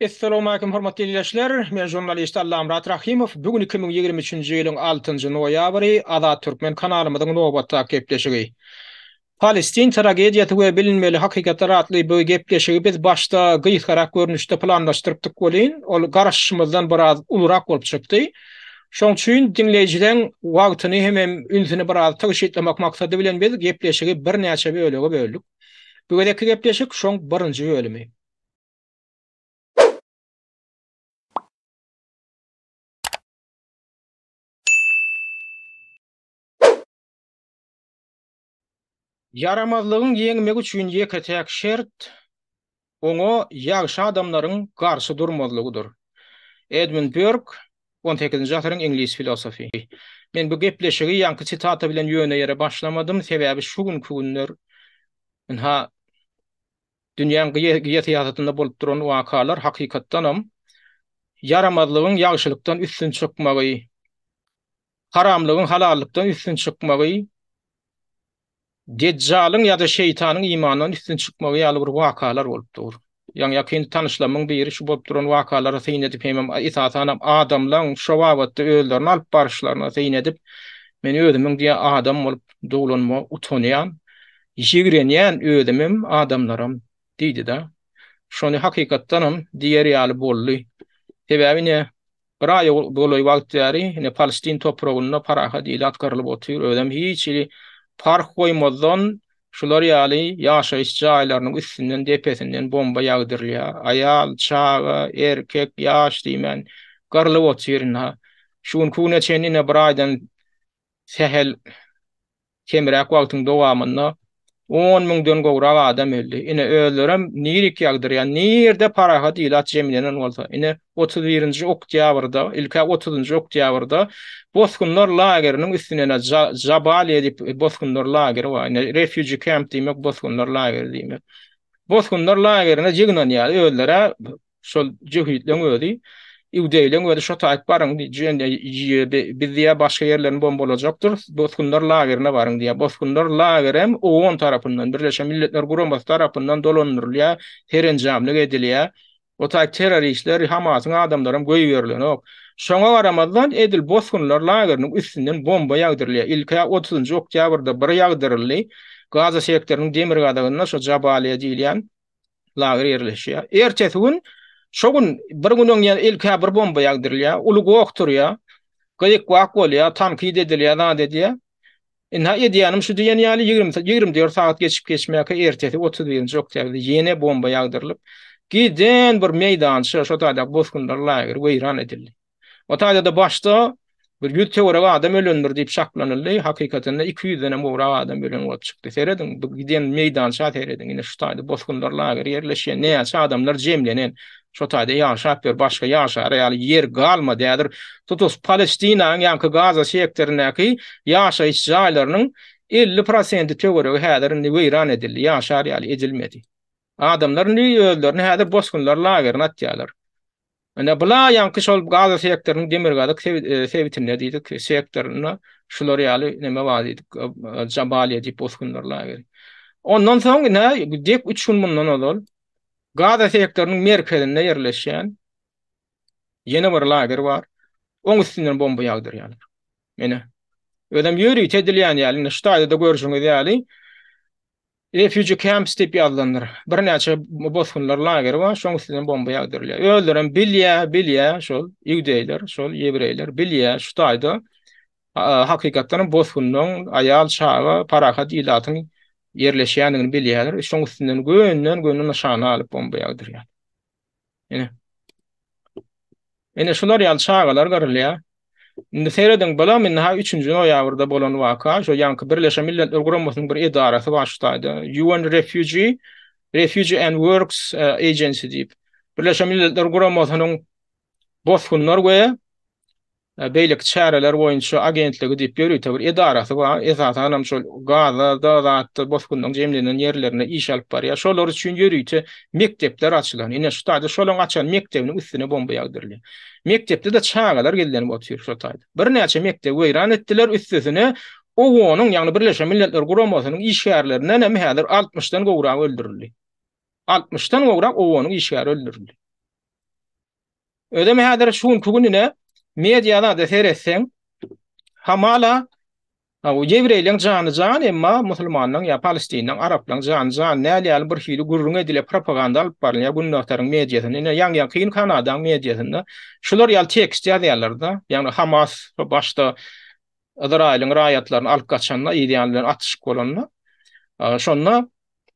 Essalawmaleýkum hormatly ildeşler! Men žurnalist Allamyrat Rahymow. Bu gün iki müň ýigrimi üçünji ýylyň altynjy noýabry, Azat Türkmen kanalymyzyň nobatdaky gepleşigi. Palestin tragediýasy we bilinmeli hakykatlar atly bu gepleşigi biz başda gysgarak görnüşde planlaşdyrypdyk welin, ol garaşyşymyzdan biraz ulurak bolup çykdy. Şoň üçin diňleýjileň wagtyny hemem ünsüni biraz tygşytlamak maksady bilen biz gepleşigi birnäçe bölege böldük. Bu gezekki gepleşik şoň birinji bölümi. Ýaramazlygyň ýeňmegi üçin ýeke-täk şert, oňa ýagşy adamlaryň garşy durmazlygydyr. Edmund Börk, on sekizinji asyryň iňlis filosofy. Men bu gepleşigi ýaňky sitata bilen ýöne ýere başlamadym, sebäbi şu günki günler ynha dünýäň geosyýasatynda bolup duran wakalar hakykatdanam ýaramazlygyň ýagşylykdan üstün çykmagy, haramlygyň halallykdan üstün çykmagy Dejjalyň ýa-da şeýtanyň imandan üstün çykmagy ýaly bir wakalar bolup dur. Ýaňy ýakyn tanyşlarymyň biri şu bolup duran wakalara syn edip hemem esasanam adamlaň şo babatda özlerini alyp baryşlaryna syn edip men özümiň diýe adam bolup doglanma utanýan, ýigrenýän özümem adamlaram diýdida. Şony hakykatdanam diýer ýaly boldy. Sebäbi ine Bir aýa golaý wagt bäri ine Palestin topragynda parahat ilat gyrlyp otyr, özem hiç hili parh goýmazdan şular ýaly ýaşaýyş jaýlarynyň üstünden, depesinden bomba ýagdyrylýar. Aýal, çaga, erkek, ýaş diýmän gyrlyp otyr ynha. Şu günki güne çenli ine bir aýdan sähel Kemräk wagtyň dowamynda on müňden gowrak adam öldi. Ine, özlerem nirik ýagdyrýar. Nirde parahat ilat jemlenen bolsa. Ine, otuz birinji oktýabrda, ilk-ä otuzynjy oktýabrda bosgunlar lageriniň üstüne, ine, Jabaliýa diýip bosgunlar lageri bar. Ine, refugee camp diýmek bosgunlar lageri diýmek. Bosgunlar lagerine ýygnanýar. Özler-ä Şol jöhitleň özi Iudeýleň özi şo taýyp baryň diýen biz diýä başga ýerlerini bombalajakdyr. Bosgunlar lagerine baryň diýä. Bosgunlar lagerem OON tarapyndan, Birleşen Milletler Guramasy tarapyndan dolandyrylýar, serenjamlyk edilýär. O taýyp terroristler, Hamasyň adamlary hem goýberilenok. Şoňa garamazdan edil bosgunlar lageriniň üstünden bomba ýagdyrylýar. Ilki 30-njy oktýabrda bir ýagdyryldy. Gaza sektorynyň demirgazygynda şo Jabaliýa diýilýän lager ýerleşýär. Ertesi gün şo gün bir gün öňýän ilkä bir bomba ýagdyrylýar, uly goh turýar. Gyýyk wak bolýar, tankid edilýär, zat edýär. Indi edýänim şu diýen ýaly 20 24 sagat geçip geçmäke ertesi 31-nji oktýabrda ýene bomba ýagdyrylyp, giden bir meýdança şo taýda bosgunlar lagery weýran edildi. O taýda-da başda bir ýüz töweregi adam ölendir diýip çaklanyldy, hakykatynda iki ýüzden hem gowrak adam ölen bolup çykdy. Serediň, bu giden meýdança serediň, ine şu taýda bosgunlar lageri ýerleşýän, näçe adamlar jemlenen, şo taýda ýaşap ýör, başga ýaşar ýaly ýer galmady, häzir tutus Palestinanyň ýaňky Gaza sektoryndaky ýaşaýyş jaýlarynyň elli prosenti töweregi häzir indi weýran edildi, ýaşar ýaly edilmedi. Adamlar indi özlerini häzir bosgunlar lagerine atýarlar. Ine bulaýanky şol Gaza sektorynyň demirgazyk sebitinde diýdik, sektorynda şular ýaly neme bar diýdik, Jabaliýa diýip bosgunlar lageri. Ondan soň ine dek 3 gün mundan ozal Gaza sektorynyň merkezinde ýerleşýän ýene bir lager bar. Oň üstünden bomba ýagdyrýarlar. Ine. Özem ýörite edilýän ýaly, indi şu taýda-da görşüňiz ýaly, Refugee camps diýip ýazylandyr. Birnäçe bosgunlar lageri bar, şoň üstünden bomba ýagdyrylýar. Özlerem bilýär, bilýär şol iudeýler, şol ýewreýler bilýär şu taýda hakykatdanam bosgunlaryň aýal, çaga, parahat ilatyň ýerleşýändigini bilýärler, şoň üstünden gönden-göni nyşana alyp bomba ýagdyrýar. Ine. Ine şular ýaly çagalar gyrylýar. Indi serediň, bulam indi ha üçünji noýabrda bolan waka, şo ýaňky Birleşen Milletler Guramasynyň bir edarasy bar şu taýda, UN Refugee, Refugee and Works e, Agency diýip. Birleşen Milletler Guramasynyň bosgunlar we beýleki çäreler boýunça agentligi diýip ýörite bir edarasy bar, esasan hem şol gaza da zatda bosgunlaryň jemlenen ýerlerinde iş alyp barýar. Şolar üçin ýörite mekdepler açylan. Ine şu taýda şolaryň açan mekdebiniň üstüne bomba ýagdyrylýar. Mekdepde-de çagalar gizlenip otyr şo taýda. Birnäçe mekdebi weýran etdiler, üstesine OON-yň, ýagny Birleşen Milletler Guramasynyň işgärlerinden hem häzir altmyşdan gowragy öldürildi. Altmyşdan gowrak OON-yň işgäri öldürildi. Özem häzir şu günki gününe media zada seretseň, hamala bu ýewreýleň jany jan, emma musulmanlaň ýa palestinleň, araplaň jany jan näl ýaly bir hili gürrüň edilýär, propaganda alyp barylýar günbagtaryň mediasynda. Ine, ýaňýakyn Kanadaň mediasynda şular ýaly tekst ýazýarlar-da, ýagny Hamas şu başda Yzraýylyň raýatlaryny alyp gaçanda, ýa ýan bilen atyşyk bolanda, şonda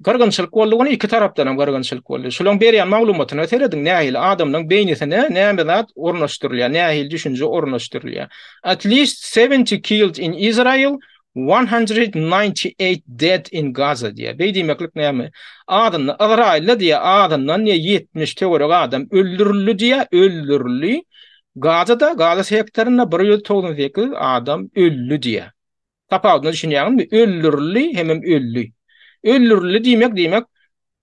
Gyrgynçylyk boldy ony iki tarapdanam gyrgynçylyk boldy. Şolaň berýän maglumatyna serediň nähili adamlaň beýnisine näme zat ornaşdyrylýar nähili düşünje ornaşdyrylýar. At least seventy killed in Israel one hundred ninety eight dead in Gaza diýýär. Beý diýmeklik näme? Azyndan Ysraýylda diýýär azyndan diýýär ýetmiş töwerek adam öldürildi diýýär öldürildi. Gazada Gaza sektorynda bir ýüz togsan sekiz adam öldi diýýär. Tapawudyna düşünýäňizmi? Öldürildi hemem öldi. Öldürildi diýmek diýmek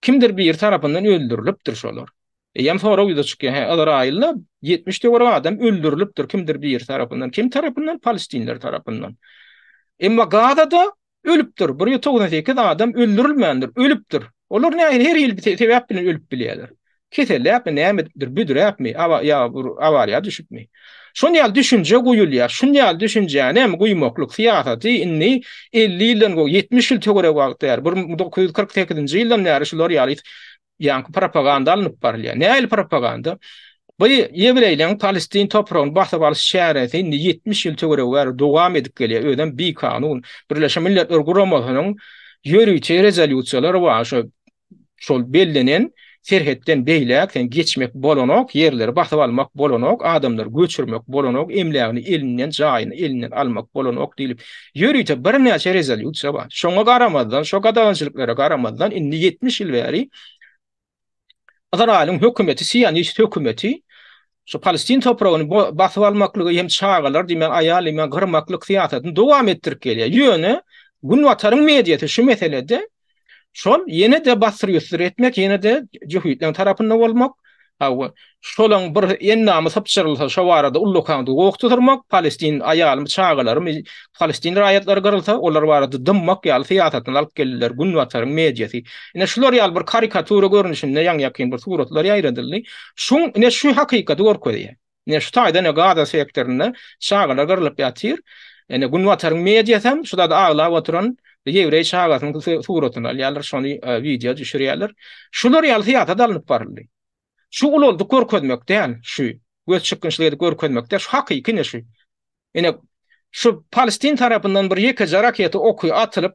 kimdir biri tarapyndan öldürilipdir şolar. Eýýäm sorag ýüze çykýar. Hä, Ysraýylda 70 töwerek adam öldürilipdir kimdir biri tarapyndan. Kim tarapyndan? Palestinler tarapyndan. Emma Gazada ölüpdir. Bir ýüz togsan sekiz adam öldürilmändir, ölüpdir. Olar nähili her hili sebäp bilen ölüp bilýärler. Keselläpmi, näme edipdir, büdräpmi, awa, ýa bir awariýa düşüpmi? Şun ýaly düşünje guýulýar. Şun ýaly düşünjäni hem guýmaklyk syýasaty indi elli ýyldan gowy, ýetmiş ýyl töweregi wagt bäri, bir müň dokuz ýüz kyrk sekizinji ýyldan bäri şular ýaly ýaňky propaganda alnyp barylýar. Nähili propaganda? Bu ýewreýleriň palestin topragyny basyp alyş çäresi indi ýetmiş ýyl töweregi bäri dowam edip gelýär, özem bikanun. Birleşen Milletler Guramasynyň ýörite rezolýusiýalary bar, şo şol bellenen serhetden beýläk sen geçmek bolanok, ýerleri basyp almak bolanok, adamlary göçürmek bolanok, emlägini elinden, jaýyny elinden almak bolanok diýlip, ýörite birnäçe rezolýusiýa bar. Şoňa garamazdan, şo gadagançylyklara garamazdan, indi ýetmiş ýyl bäri Ysraýylyň hökümeti, sionist hökümeti şu palestin topragyny basyp almaklygy hem çagalar diýmän aýal diýmän gyrmaklyk syýasatyny dowam etdirip gelýär. Ýöne Günbataryň mediasy şu meselede şol ýene-de basyr-ýusur etmek, ýene-de jöhitleň tarapynda bolmak, hawa, şolaň bir endamy sypjyrylsa şo barada ullakan gowuk tutyrmak, palestin aýalymy, çagalarymy Palestin raýatlary gyrylsa, olar barada dymmak ýaly syýasatyny alyp geldiler, Günbataryň mediasy. Ine, şular ýaly bir karikatura görnüşinde ýaňy-ýakyn bir suratlar ýaýradyldy. Şuň, ine, şu hakykaty görkezýär. Ine, şu taýdan, ine, Gaza sektorynda çagalar gyrylyp ýatyr. Ine, Günbataryň mediasy hem şu zady aglap oturan ýewreý çagasynyň suratyny alýarlar, şony wideo düşürýärler. Şular ýaly syýasat alnyp baryldy. Şu ulaldyk görkezmek däl şu. Göz çykgynçlyk edip görkezmek däl şu hakyky ine şu. Ine şu palestin tarapyndan bir ýekeje raketa oky atylyp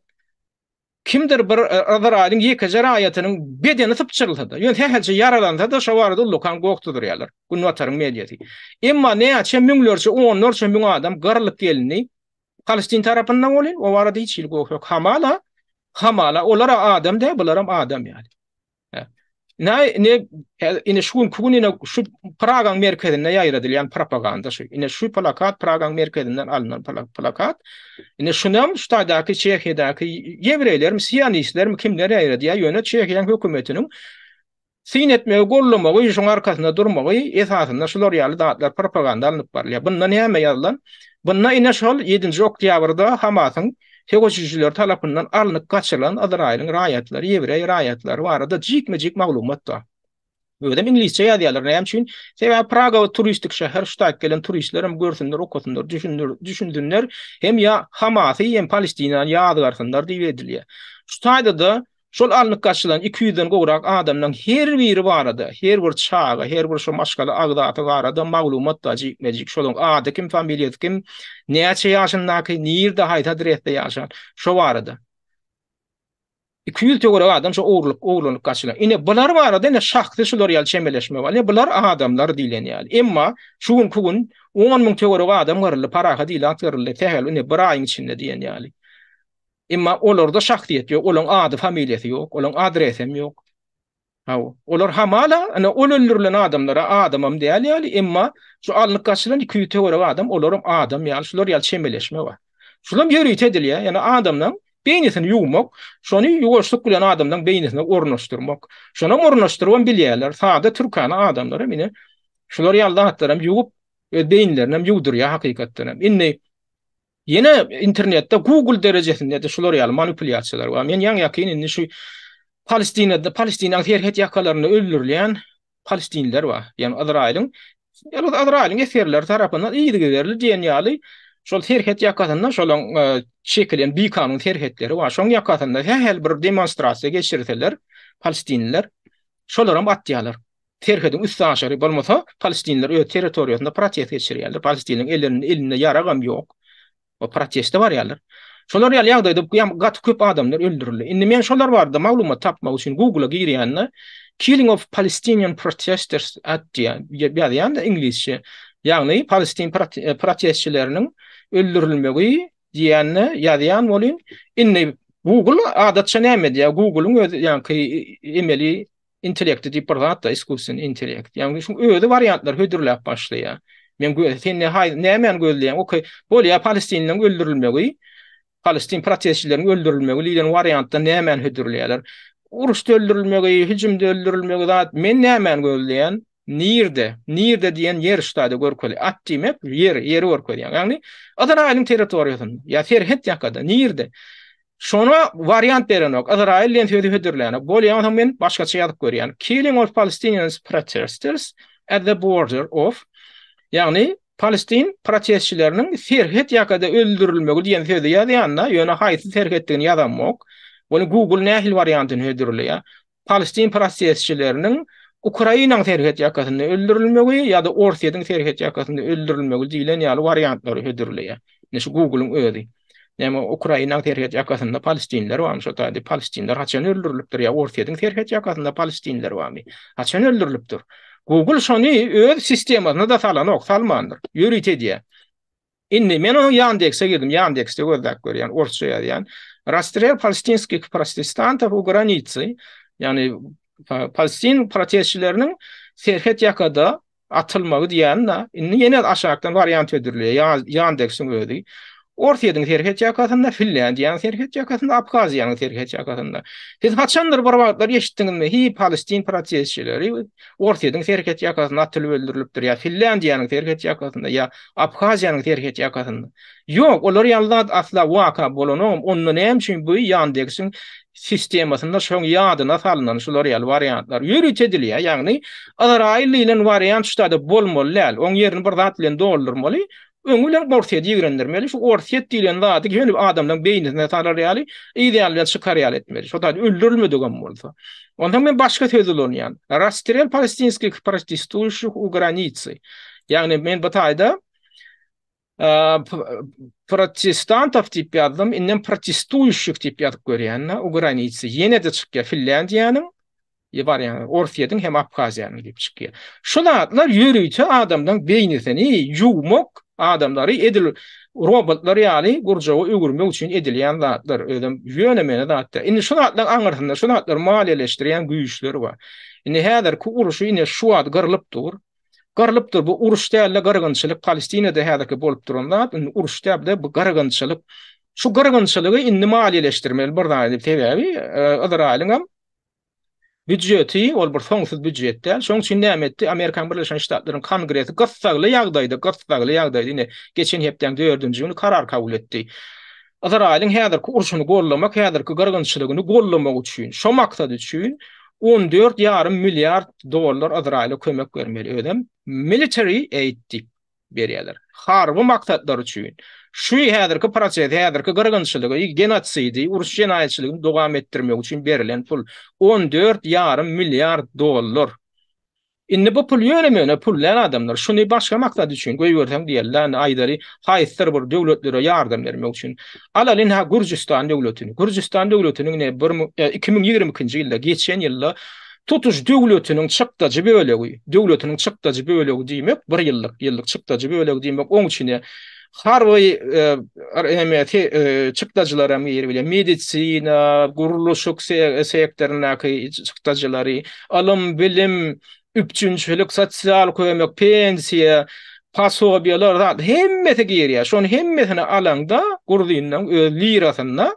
kimdir bir e, Yzraýylyň ýekeje raýatynyň bedeni sypjyrylsa-da, ýöne sähelçe ýaralansa-da şo barada ullakan gokdy durýarlar. Günbataryň mediýasy. Emma näçe müňlerçe, onlarça müň adam gyrlyp gelindi. Palestin tarapyndan bolýar, o barada hiç hili gok ýok. Hamala, hamala, olar adam dä, bularam adam ýaly. Näme indi indi şu günki gün indi şu Pragaň merkezinde ýaýradylýan propaganda şu. Indi şu plakat Pragaň merkezinden alnan plakat. Indi şuny hem şu taýdaky Çehiýadaky ýewreýlermi, sionistlermi kimler ýaýradýar? Ýöne Çehiýaň hökümetiniň syn etmegi, goldamagy, şuň arkasynda durmagy esasynda şular ýaly zatlar propaganda alnyp barylýar. Bunda näme ýazylan? Bunda indi şol ýedinji oktýabrda Hamasyň söweşijiler tarapyndan alnyp gaçyrylan Ysraýylyň raýatlary, ýewreý raýatlary barada jikme-jik maglumat bar. Özem iňlisçe ýazýarlar, näme üçin? Sebäbi Praga turistik şäher, şu taýyp gelen turistler hem görsünler, okasynlar, düşünsinler, hem ýa Hamasy, hem Palestinany ýazgarsynlar diýip edilýär. Şu taýda-da Şol alnyp gaçylan iki ýüzden gowrak adamdan her biri barada, her bir çaga, her bir şu maşgala agzasy barada maglumat bar jikme-jik, şolaň ady kim, familiýasy kim, näçe ýaşyndaky, nirde, haýsy adresde ýaşan, şo barada. Iki ýüz töwerek adam şo ogurlyk, ogurlanyp gaçylan. Ine, bular barada ine şahsy şular ýaly çemeleşme bar. Ine, bular adamlar diýlen ýaly. Emma şu günki gün on müň töwerek adam gyryldy, parahat ilat gyryldy, sähel, ine, bir aýyň içinde diýen ýaly. Emma olarda şahsyýet ýok, olaň ady familiýasy ýok, olaň adresem ýok. Haw, olar hamala, ine ol öldürilen adamlara adamam däl ýaly, emma şu alnyp gaçylan iki ýüz töwerek adam olaram adam ýaly, şular ýaly çemeleşme bar. Şulam ýörite edilýär, ýani adamlaň beýnisini ýuwmak, şony ýuwaşlyk bilen adamlaň beýnisine ornaşdyrmak. Şonam ornaşdyrybam bilýärler, sada türkana adamlaram ine şular ýaly zatlaram ýuwup, öz beýinlerinem ýuwdurýar hakykatdanam. Indi Ýene internetde Google derejesinde de şular ýaly manipulýasiýalar bar. Men ýaňy ýakyn indi şu Palestinada, Palestinaň serhet ýakalarynda öldürilýän palestinler bar. Ýani Izraýylyň, ýa-da Izraýylyň esgerleri tarapyndan yzygiderli diýen ýaly şol serhet ýakasynda şolaň e, çekilen bikanun serhetleri bar. Şoň ýakasynda her bir demonstrasiýa geçirseler, palestinler şolaram atýarlar. serhediň üstaşyry bolmasa palestinler öz territoriýasynda protest geçirýärler palestiniň ellerinde elinde ýaragam ýok we proteste barýarlar şolar ýaly ýagdaýda ýam gaty köp adamlar öldürildi indi men şolar barada maglumat tapmak üçin google-a girýände killing of palestinian protesters at diýýän ýazýanda iňlisçe ýagny palestin e, protestçileriniň öldürilmegi diýende ýazýan bolýan indi google adatça näme diýýär google-yň öz ýaňky e, e, emeli intellekti diýip bir zat da iskusin intellekt. Ýagny şu özi wariantlar hödürläp başlaýar. Men göz sen ne hay nämen gözleýän? Okey. Bol ýa Palestinliň öldürilmegi. Palestin protestçilerin öldürilmegi diýen wariantda nämen hödürleýärler? Uruşda öldürilmegi, hüjümde öldürilmegi zat men nämen gözleýän? Nirde? Nirde diýen ýer ştada görkeli. At diýmek ýer, ýeri görkezýär. Ýagny Yzraýylyň territoriýasynda, ýa serhet ýakada, nirde? Şona wariant berenok, Yzraýyl diýen sözi hödürlänok. Bolýar, onsoň men başgaça ýazyp görýän. Killing of Palestinians protesters at the border of Ýagny Palestin protestçileriniň serhet ýakada öldürilmegi diýen sözi ýazýanda, ýöne haýsy serhetdigini ýazamok. Bunu Google nähili wariantyny hödürleýär? palestin prosesçileriniň Ukrainanyň serhet ýakasynda öldürilmegi ýa-da Orsýetiň serhet ýakasynda öldürilmegi diýlen ýaly wariantlary hödürleýär. Ine şu Google-yň özi. Näme Ukrainanyň serhet ýakasynda palestinler barmy? Şo taýda palestinler haçan öldürilipdir ýa Orsýetiň serhet ýakasynda palestinler barmy? Haçan öldürilipdir? Google şony öz sistemasyna-da salanok, salmandyr. Ýörite edýär. Indi men onuň Ýandekse girdim, Ýandekste gözläp görýän, orsça ýazýan. Rastrel palestinskih protestantov u granicy, ýagny palestin protestçileriniň serhet ýakada atylmagy diýýän-de, indi ýene aşakdan wariant hödürleýär, Ýandeksiň özi. Orsýetiň serhet ýakasynda, Finlýandiýanyň serhet ýakasynda, Abhaziýanyň serhet ýakasynda. Siz haçandyr bir wagtlar eşitdiňizmi, hi palestin protestçileri, Orsýetiň serhet ýakasynda atylyp öldürilipdir ýa Finlýandiýanyň serhet ýakasynda ýa Abhaziýanyň serhet ýakasynda. Ýok, olar ýaly zat asla waka bolanogam, onda näme üçin bu Ýandeksin sistemasynda şoň ýadyna salnan şular ýaly wariantlar ýörite edilýär, ýagny Yzraýyl diýlen wariant şu taýda bolmaly däl, oň ýerini bir zat bilen doldurmaly, Öň bilen Orsýeti ýigrendirmeli, şu Orsýet diýlen zady heniz adamlaryň beýnisine salar ýaly, yz ýalydan çykar ýaly etmeli, şo zat öldürilmedigem bolsa. Onsoň men başga söz ulanýan. Rasstrel palestinskih protestuýuşih u granicy. Ýagny men bu taýda protestantow diýip ýazdym, indem protestuýuşih diýip ýazyp görýän-de, u granicy. Ýene-de çykýar Finlýandiýanyň diýip barýan, Orsýetiň hem Abhaziýanyň diýip çykýar. Şu zatlar ýörite adamlaryň beýnisini ýuwmak, adamlary edil robotlar ýaly gurjawa öwürmek üçin edilýän zatlar, özem ýöne-möne zat däl. Indi şu zatlaryň aňyrsynda şu zatlary maliýeleşdirýän güýçler bar. Indi häzirki urşy ine şu wagt gyrlyp dur. Gyrlyp dur, bu uruş däl-de gyrgynçylyk, Palestinada häzirki bolup duran zat, indi uruş däl-de bu gyrgynçylyk. Şu gyrgynçylygy indi maliýeleşdirmeli bir zat edip, sebäbi Yzraýylyň hem Býujeti, ol bir soňsuz býujet däl. Şoň üçin näme etdi? Amerikanyň Birleşen Ştatlarynyň Kongresi gyssagly ýagdaýda, gyssagly ýagdaýda, ine, geçen hepdäň dördünji güni karar kabul etdi. Ysraýylyň häzirki urşuny gollamak, häzirki gyrgynçylygyny gollamak üçin, şo maksat üçin on dört ýarym milliard dollar Ysraýyla kömek bermeli, özem military aid diýip. berýärler. Harby maksatlar üçin şu häzirki prosesi, häzirki gyrgynçylygy, genosidi, uruş jenaýatçylygyny dowam etdirmek üçin berlen pul on dört ýarym milliard dollar. Indi bu pul ýöne-möne pul däl adamlar. Şuny başga maksat üçin goýberseň diýerler, indi aýdaly haýsydyr bir döwletlere ýardam bermek üçin. Alaly indi ha Gürjüstan döwletini. Gürjüstan döwletiniň ne bir müň, iki müň ýigrimi ikinji ýylda, geçen ýylda, tutuş döwletiniň çykdajy bölegi, döwletiniň çykdajy bölegi diýmek, bir ýyllyk, ýyllyk çykdajy bölegi diýmek, oň içine harby çykdajylar hem girip bilýär, medisina, gurluşyk sektoryndaky çykdajylary, ylym, bilim, üpjünçilik, sosial kömek, pensiýa, posobiýalar, hemmesi girýär. Şonuň hemmesini alaňda, gurzinleriň öz lirasynda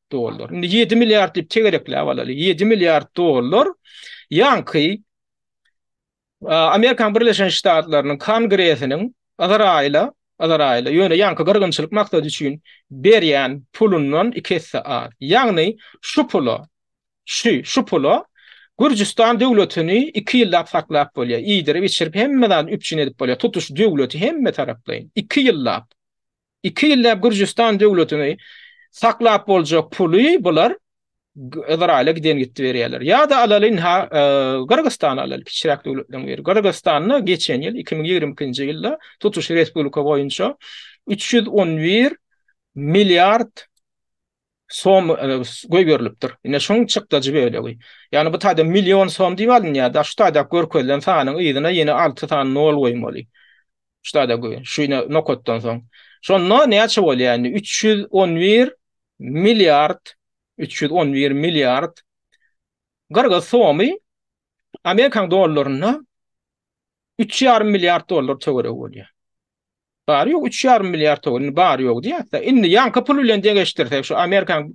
dollar. Indi 7 milliard diýip tegerekläp alaly. 7 milliard dollar ýanky Amerikan Birleşen Ştatlarynyň Kongresiniň Azraýla, Azraýla ýöne ýanky gyrgynçylyk maksady üçin berýän pulundan iki esse az. Ýagny şu pula, şu, şu pula Gürjüstan döwletini 2 ýyllap saklap bolýar. Iýdirip, içirip hemme zady üpjün edip bolýar. Tutuş döwleti hemme taraplaýyn. 2 ýyllap. Iki ýylläp Gürjüstan döwletini saklap boljak puly bular Izraýyla giden gitdi berýärler. Ýa-da alaly ha Gyrgyzystana alaly kiçiräk döwletleriň biri. Gyrgyzystanda geçen ýyl 2022-nji ýylda tutuş respublika boýunça 311 milliard som goýberilipdir. Ine şoň çykdajy bölegi. Ýagny bu taýda million som diýip alynýar da şu taýda görkezilen sanyň yzyna ýene alty sany nol goýmaly. Şu taýda goý. Şu ine nokatdan soň. Şonda näçe bolýar indi? Üç ýüz on bir milliard, üç ýüz on bir milliard gyrgyz somy Amerikan dollarynda üç ýarym milliard dollar töweregi bolýar. Bary ýogy üç ýarym milliard togany bary ýogy diýäsde. Indi ýaňky pul bilen deňeşdirsek, şu Amerikaň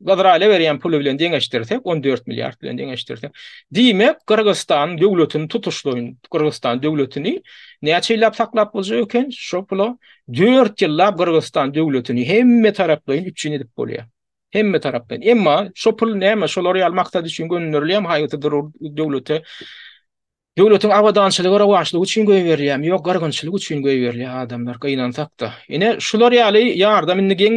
Gazraýla berýän puly bilen deňeşdirsek, 14 milliard bilen deňeşdirsek. Diýmek, Gyrgyzystan döwletini tutuşlaýyn, Gyrgyzystan döwletini näçe ýyllap saklap boljak eken? Şo pula dört ýyllap Gyrgyzystan döwletini hemme taraplaýyn üpjün edip bolýar. Hemme taraplaýyn. Emma şo pul näme? Şolar ýaly maksat üçin gönderilýärmi haýsy döwlete? Döwletiň abadançylygy rowaçlygy üçin goýberilýämi ýok gyrgynçylyk üçin goýberilýä adamlar gynansakda ine şular ýaly ýardam indi geň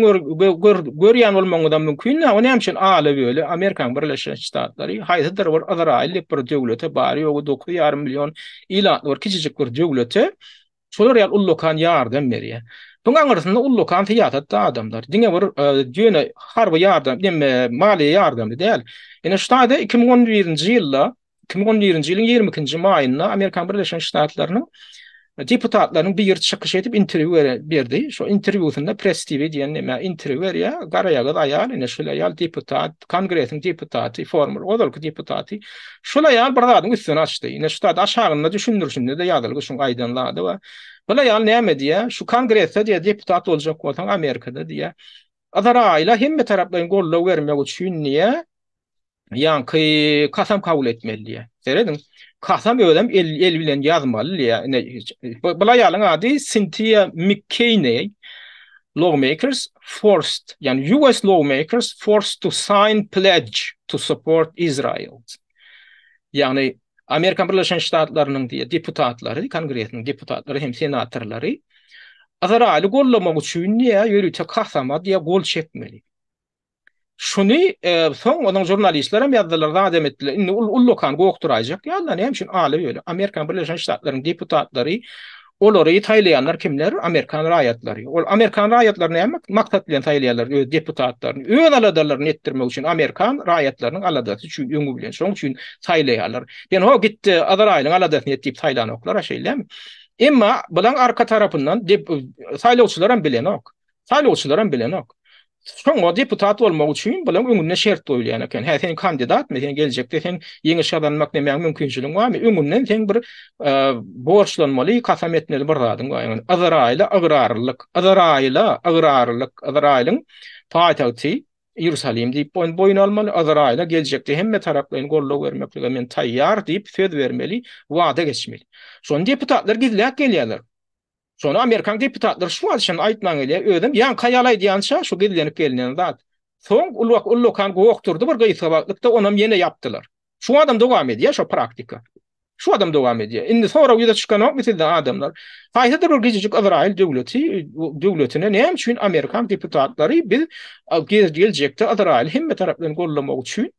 görýän bolmagyňyzam mümkin ýa o näme üçin ala böle amerikaň birleşen ştatlary haýsydyr bir yzraýyl diýip bir döwlete bary ýogy dokuz ýarym million ilatly bir kiçijik bir döwlete Şolar ýaly ullakan ýardam berýär. Şoň aňyrsynda ullakan syýasatda adamlar. Diňe bir ýöne harby ýardam, diýme maliýe ýardamy däl. Ine şu taýda iki müň on birinji ýylda, iki müň on birinji ýylyň ýigrimi ikinji maýynda Amerikan Birleşen Ştatlarynyň deputatlarynyň biri çykyş edip interwýu berdi. Şo interwýusynda press TV diýen näme interwýu berýär. Garaýagyz aýal, ine şeýle aýal deputat, kongresiň deputaty, former, ozalky deputaty. Şol aýal bir zadyň üstüni açdy. Ine şu zat aşagynda düşündirişinde-de ýazylgy şuň aýdan zady we bir aýal näme diýýär? Şu kongresde diýýär deputat boljak bolsaň Amerikada diýýär. Ysraýyla hemme taraplaýyn goldaw bermek üçin diýýär. Ýaňky kasam kabul etmeli diýýär. Serediň. Kasam özem el, el bilen ýazmaly diýýär. Ine bu, bu aýalyň ady Sintiýa Mikkeýneý. lawmakers forced, ýagny US lawmakers forced to sign pledge to support Israel. Ýagny Amerika Birleşen Ştatlarynyň diýe deputatlary, kongresiniň deputatlary hem senatorlary Ysraýyly gollamak üçin diýe ýörite kasama diýe gol çekmeli. Şuny soň onuň žurnalistlerem ýazdylar, zat hem etdiler. Indi ol ullakan gokduraýjak ýaly, näme üçin aly ýöne? Amerikanyň Birleşen Ştatlarynyň deputatlary, olary saýlaýanlar kimler? Amerikan raýatlary. Ol amerikan raýatlary näme maksat bilen saýlaýarlar öz deputatlaryny? Öz aladalaryny etdirmek üçin, amerikan raýatlarynyň aladasy üçin öňi bilen. Şonuň üçin saýlaýarlar. Ýöne ho gitdi, Yzraýylyň aladasyny et diýip saýlanoklar-a, şeýlemi? Emma bulaň arka tarapyndan saýlawçylaram bilenok. Saýlawçylaram bilenok. Şoňa deputat bolmak üçin bulaň öňünde şert goýulýan eken. Hä, sen kandidatmy? Sen geljekde sen ýeňiş gazanmak nämäň mümkinçiligiň barmy? Öňünden seň bir borçlanmaly, kasam etmeli bir zadyň bar. Ýagny Yzraýyla ygrarlylyk, Yzraýyla ygrarlylyk, Yzraýylyň paýtagty Iýerusalim diýip boýun almaly, Yzraýyla geljekde hemme taraplaýyn goldaw bermeklige men taýýar diýip söz bermeli, wada geçmeli. Şony deputatlar gizläp gelýärler. Şony amerikan deputatlary şu wagt şony aýtman gelýär. Özüm ýaňky aýal aýdýança şu gizlenip gelinen zat. Soň ulwak ullakan gokdurdy bir gysga wagtlykda onam ýene ýapdylar. Şu adam dowam edýär şo praktika. Şu adam dowam edýär. Indi sorag ýüze çykanokmy sizden adamlar? Haýsydyr bir gijijik Yzraýyl döwleti döwletine näme üçin amerikan deputatlary biz geljekde Yzraýyly hemme tarapdan gollamak üçin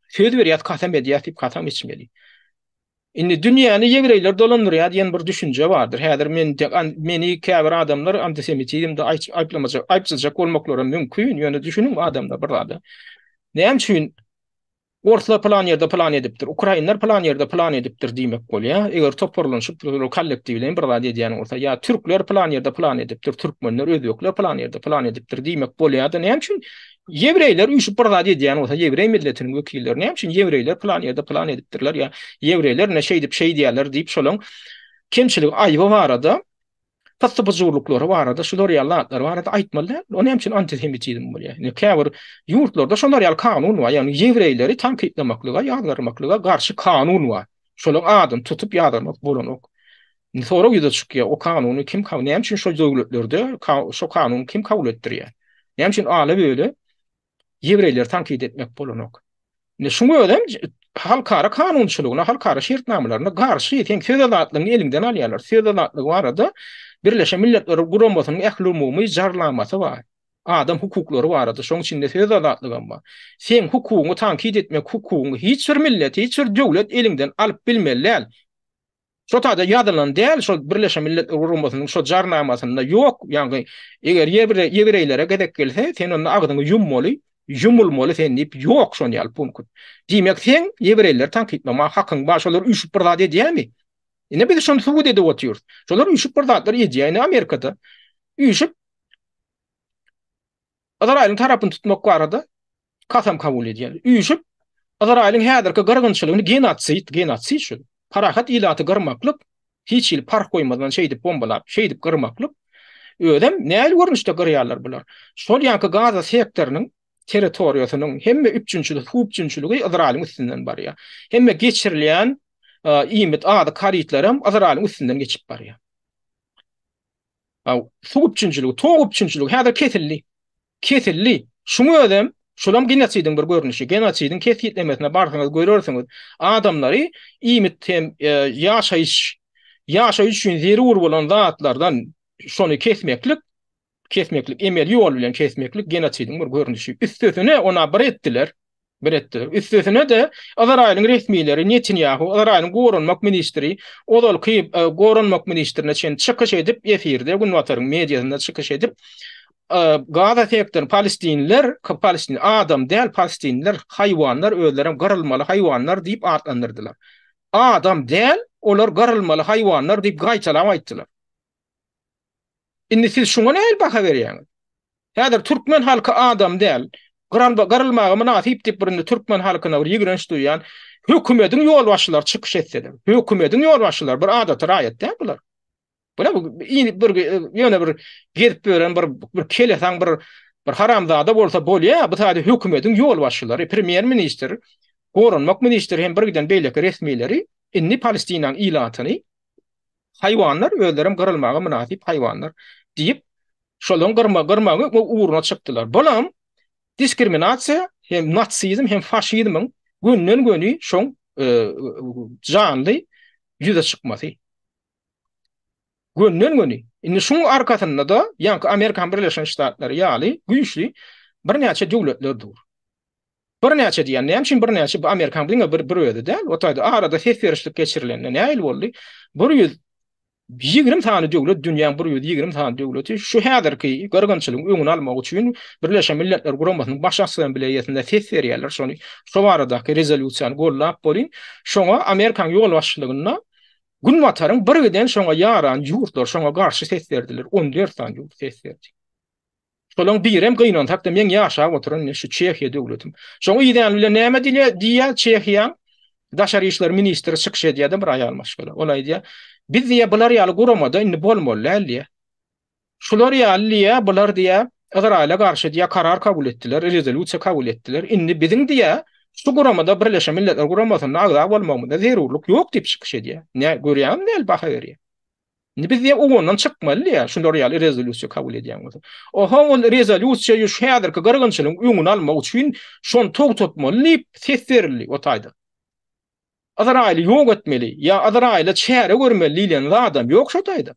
söz berýäs, kasam edýäs diýip kasam içmeli. Indi dünýäni ýewreýler dolandyrýar diýen bir düşünje bardyr. Häzir men meni käbir adamlar antisemitizmde aýplamajak, aýypsyzjak bolmaklaram mümkin, ýöne düşüniň adamlar bir zada. Näme üçin orslar pylan ýerde pylan edipdir, ukrainler pylan ýerde pylan edipdir diýmek bolýar. Eger toparlanyşyp kollektiwleýin bir zat edýän bolsa, ýa türkler pylan ýerde pylan edipdir, türkmenler, özbekler pylan ýerde pylan edipdir diýmek bolýar-da, näme üçin Ýewreýler üýşüp bir zat edýän bolsa, ýewreý milletiniň wekilleri näme üçin ýewreýler plan ýerde plan edipdirler ýa ýewreýler ne şeýdip şeýdýärler diýip şolaň kemçiligi aýby barada pyssy-pyjurlyklary barada şular ýaly zatlar barada aýtmaly däl. O näme üçin antisemitizm bolýar? Ýa käbir ýurtlarda şolar ýaly kanun bar. Ýagny ýewreýleri tankytlamaklyga, ýazgarmaklyga garşy kanun bar. Şolaň adyny tutup ýazgarmak bolanok. Indi sorag ýüze çykýar, o kanuny kim kabul, näme üçin şol döwletlerde şo kanuny kim kabul etdirýär? Näme üçin ala böle ýewreýleri tankyt etmek bolanok? Indi şuň özem halkara kanunçylygyna, halkara şertnamalaryna garşy, sen söz azatlygyny eliňden alýarlar. Söz azatlygy barada Birleşen Milletler Guramasynyň ähliumumy jarlamasy bar. Adam hukuklary barada, şoň içinde söz azatlygam bar. Sen hukugyňy tankyt etmek hukugyňy hiç bir millet, hiç bir döwlet eliňden alyp bilmeli däl. Şo taýda ýazylan däl, şol Birleşen Milletler Guramasynyň şo jarnamasynda ýok, ýagny eger ýewreý, ýewreýlere gezek gelse, sen onda agzyňy ýummaly, ýumulmaly sen diýip ýok şon ýaly punkt. Diýmek seň ýewreýleri tankytlamaga hakyň bar, şolar üýşüp bir zat edýämi? Ine biz şony subut edip otyrys. Şolar üýşüp bir zatlar edýär, ine Amerikada üýşüp Yzraýylyň tarapyny tutmak barada kasam kabul edýär. Üýşüp, Yzraýylyň häzirki gyrgynçylygyny genotsid, genotsid şu, parahat ilaty gyrmaklyk, hiç hili parh goýmazdan şeýdip bombalap, şeýdip gyrmaklyk, özem nähili görnüşde gyrýarlar bular? Şol ýaňky Gaza sektorynyň territoriýasynyň hemme üpjünçiligi, suw üpjünçiligi Yzraýylyň üstünden barýar. Hemme geçirilýän iýmit, azyk harytlaram Yzraýylyň üstünden geçip barýar. Aw, suw üpjünçiligi, tok üpjünçiligi häzir kesildi. Kesildi. Şuň özem, şulam genosidiň bir görnüşi. Genosidiň kesgitlemesine barsaňyz görersiňiz. Adamlary iýmit hem ýaşaýyş, ýaşaýyş üçin zerur bolan zatlardan şony kesmeklik, kesmeklik, emeli ýol bilen kesmeklik genosidiň bir görnüşi. Üstesine, ona bir etdiler. bir etdiler. Üstesine-de, Ysraýylyň resmileri Netanýahu, Ysraýylyň goranmak ministri, ozalky e, goranmak ministrine çenli çykyş edip, efirde günbataryň mediasynda çykyş edip, e, Gaza sektoryny palestinler, palestin adam däl, palestinler haýwanlar, özleri hem gyrylmaly haýwanlar diýip atlandyrdylar. Adam däl, olar gyrylmaly haýwanlar diýip gaýtalap aýtdylar. Indi siz şuňa nähili baha berýäňiz? Häzir türkmen halky adam däl. Gyralba gyrylmaga mynasyp diýip bir indi türkmen halkyna bir ýigrenç duýýan hökümediň ýolbaşçylary çykyş etseler. Hökümediň ýolbaşçylary bir adaty raýat däl bular. Bula bu ýene bir ýöne bir gezip ýören bir bir kelesaň bir bir haramzada bolsa bolýar. Bu sadä hökümediň ýolbaşçylary, premýer ministr, goranmak ministri hem bir giden beýleki resmileri indi Palestinanyň ilatyny Haýwanlar özlerem gyrylmaga mynasyp haýwanlar diýip, şolaryň gyrma gyrmagy we ugruna çykdylar. Bulam diskriminasiýa hem natsizm hem faşizmiň gönden göni şoň e, janly ýüze çykmasy. Gönden göni. Indi şuň arkasynda da ýaňky Amerikan Birleşen Ştatlary ýaly güýçli birnäçe döwletler dur. Birnäçe diýýän, näme üçin birnäçe? Bu Amerikanyň diňe bir bir özi däl. O taýda arada ses berişlik geçirilende näme ýyl boldy? Bir ýüz ýigrimi sany döwlet, dünýäň bir ýüz ýigrimi sany döwleti şu häzirki gyrgynçylygyň öňüni almak üçin Birleşen Milletler Guramasynyň Baş Assambleýasynda ses berýärler. Şony şu baradaky rezolýusiýany goldap boluň. Şoňa Amerikanyň ýolbaşçylygynda Günbataryň birgiden şoňa ýaran ýurtlary şoňa garşy ses berdiler. On dört sany ýurt ses berdi. Şolaň birem gynansak-da meň ýaşap oturan indi şu Çehiýa döwletim. Şoň idäni bilen näme dilýär, diýýär Çehiýaň Daşary işler ministri çykyş edýär-de bir aýal maşgala. Ol aýdýar, Biz diýýär bular ýaly guramada indi bolmaly däl diýýär. Şular ýaly diýýär, bular diýýär Ýzraýyla garşy diýýär karar kabul etdiler, rezolýusiýa kabul etdiler. Indi biziň diýýär şu guramada Birleşen Milletler guramasynda agza bolmagymyza zerurlyk ýok diýip çykyş edýär. Nä görýäňizmi näl baha berýär. Indi biz diýen ugundan çykmaly diýýär, şular ýaly rezolýusiýa kabul edýän bolsa. Oho, ol rezolýusiýa şu häzirki gyrgynçylygyň öňüni almak üçin şony togtatmaly diýip ses berildi o taýdan. Ysraýyly ýok etmeli ýa Ysraýyla çäre görmeli diýlen zadam ýok şu taýda.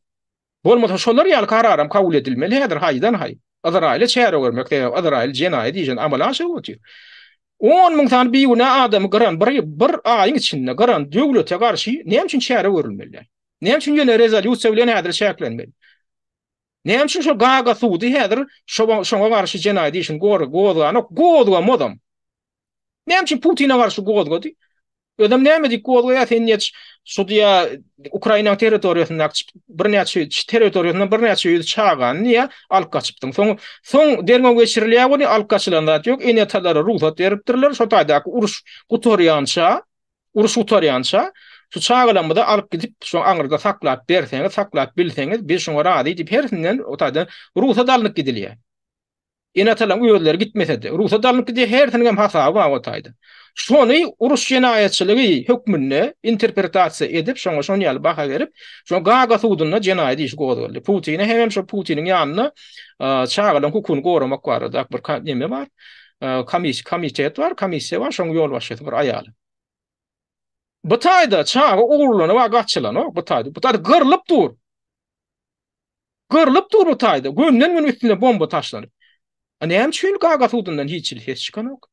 Bolmasa şolar ýaly kararam kabul edilmeli häzir haýdan haý. Ysraýyla çäre görmek, sebäbi Ysraýyl jenaýat işini amala aşyryp otyr. On müň sany bigünä adamy gyran bir bir aýyň içinde gyran döwlete garşy näme üçin çäre görülmeli? Näme üçin ýene rezolýusiýa bilen häzir çäklenmeli? Näme üçin şo Gaga sudy häzir şoňa garşy jenaýat işini gozganok, gozgamazam. Näme üçin Putine garşy gozgady? Özem näme diýip gozgaýar sen ýet şu diýä Ukraina territoriýasynda birnäçe territoriýasynda birnäçe ýüz çagany diýä alyp gaçypdyň. Soň soň derňew geçirilýär we alyp gaçylan zat ýok. Ene talara rugsat beripdirler. Şo taýdaky uruş gutarýança Uruş gutarýança, şu çagalarymyzy alyp gidip, şu aňyrda saklap berseňiz, saklap bilseňiz, biz şoňa razy diýip, hersinden o taýdan rugsat alnyp gidilýär. Ene-atalaryň özleri gitmese-de, rugsat alnyp gidýär, hersiniň hem hasaby bar o taýdan. Şony uruş jenaýatçylygy hökmünde interpretasiýa edip, şoňa şon ýaly baha berip, şoňa Gaga sudunda jenaýat işi gozgaldy. Putine hemem şo Putiniň ýanynda çagalaryň hukugyny goramak barada bir neme bar. komis komitet bar, komissiýa bar, şoň ýolbaşçysy bir aýal. Bu taýda çaga ogurlany we gaçylan, o, bu taýda, bu taýda gyrlyp dur. Gyrlyp dur bu taýda, gönden gün üstüne bomba taşlanyp. A näme üçin gaga sudundan hiç hili ses çykanok?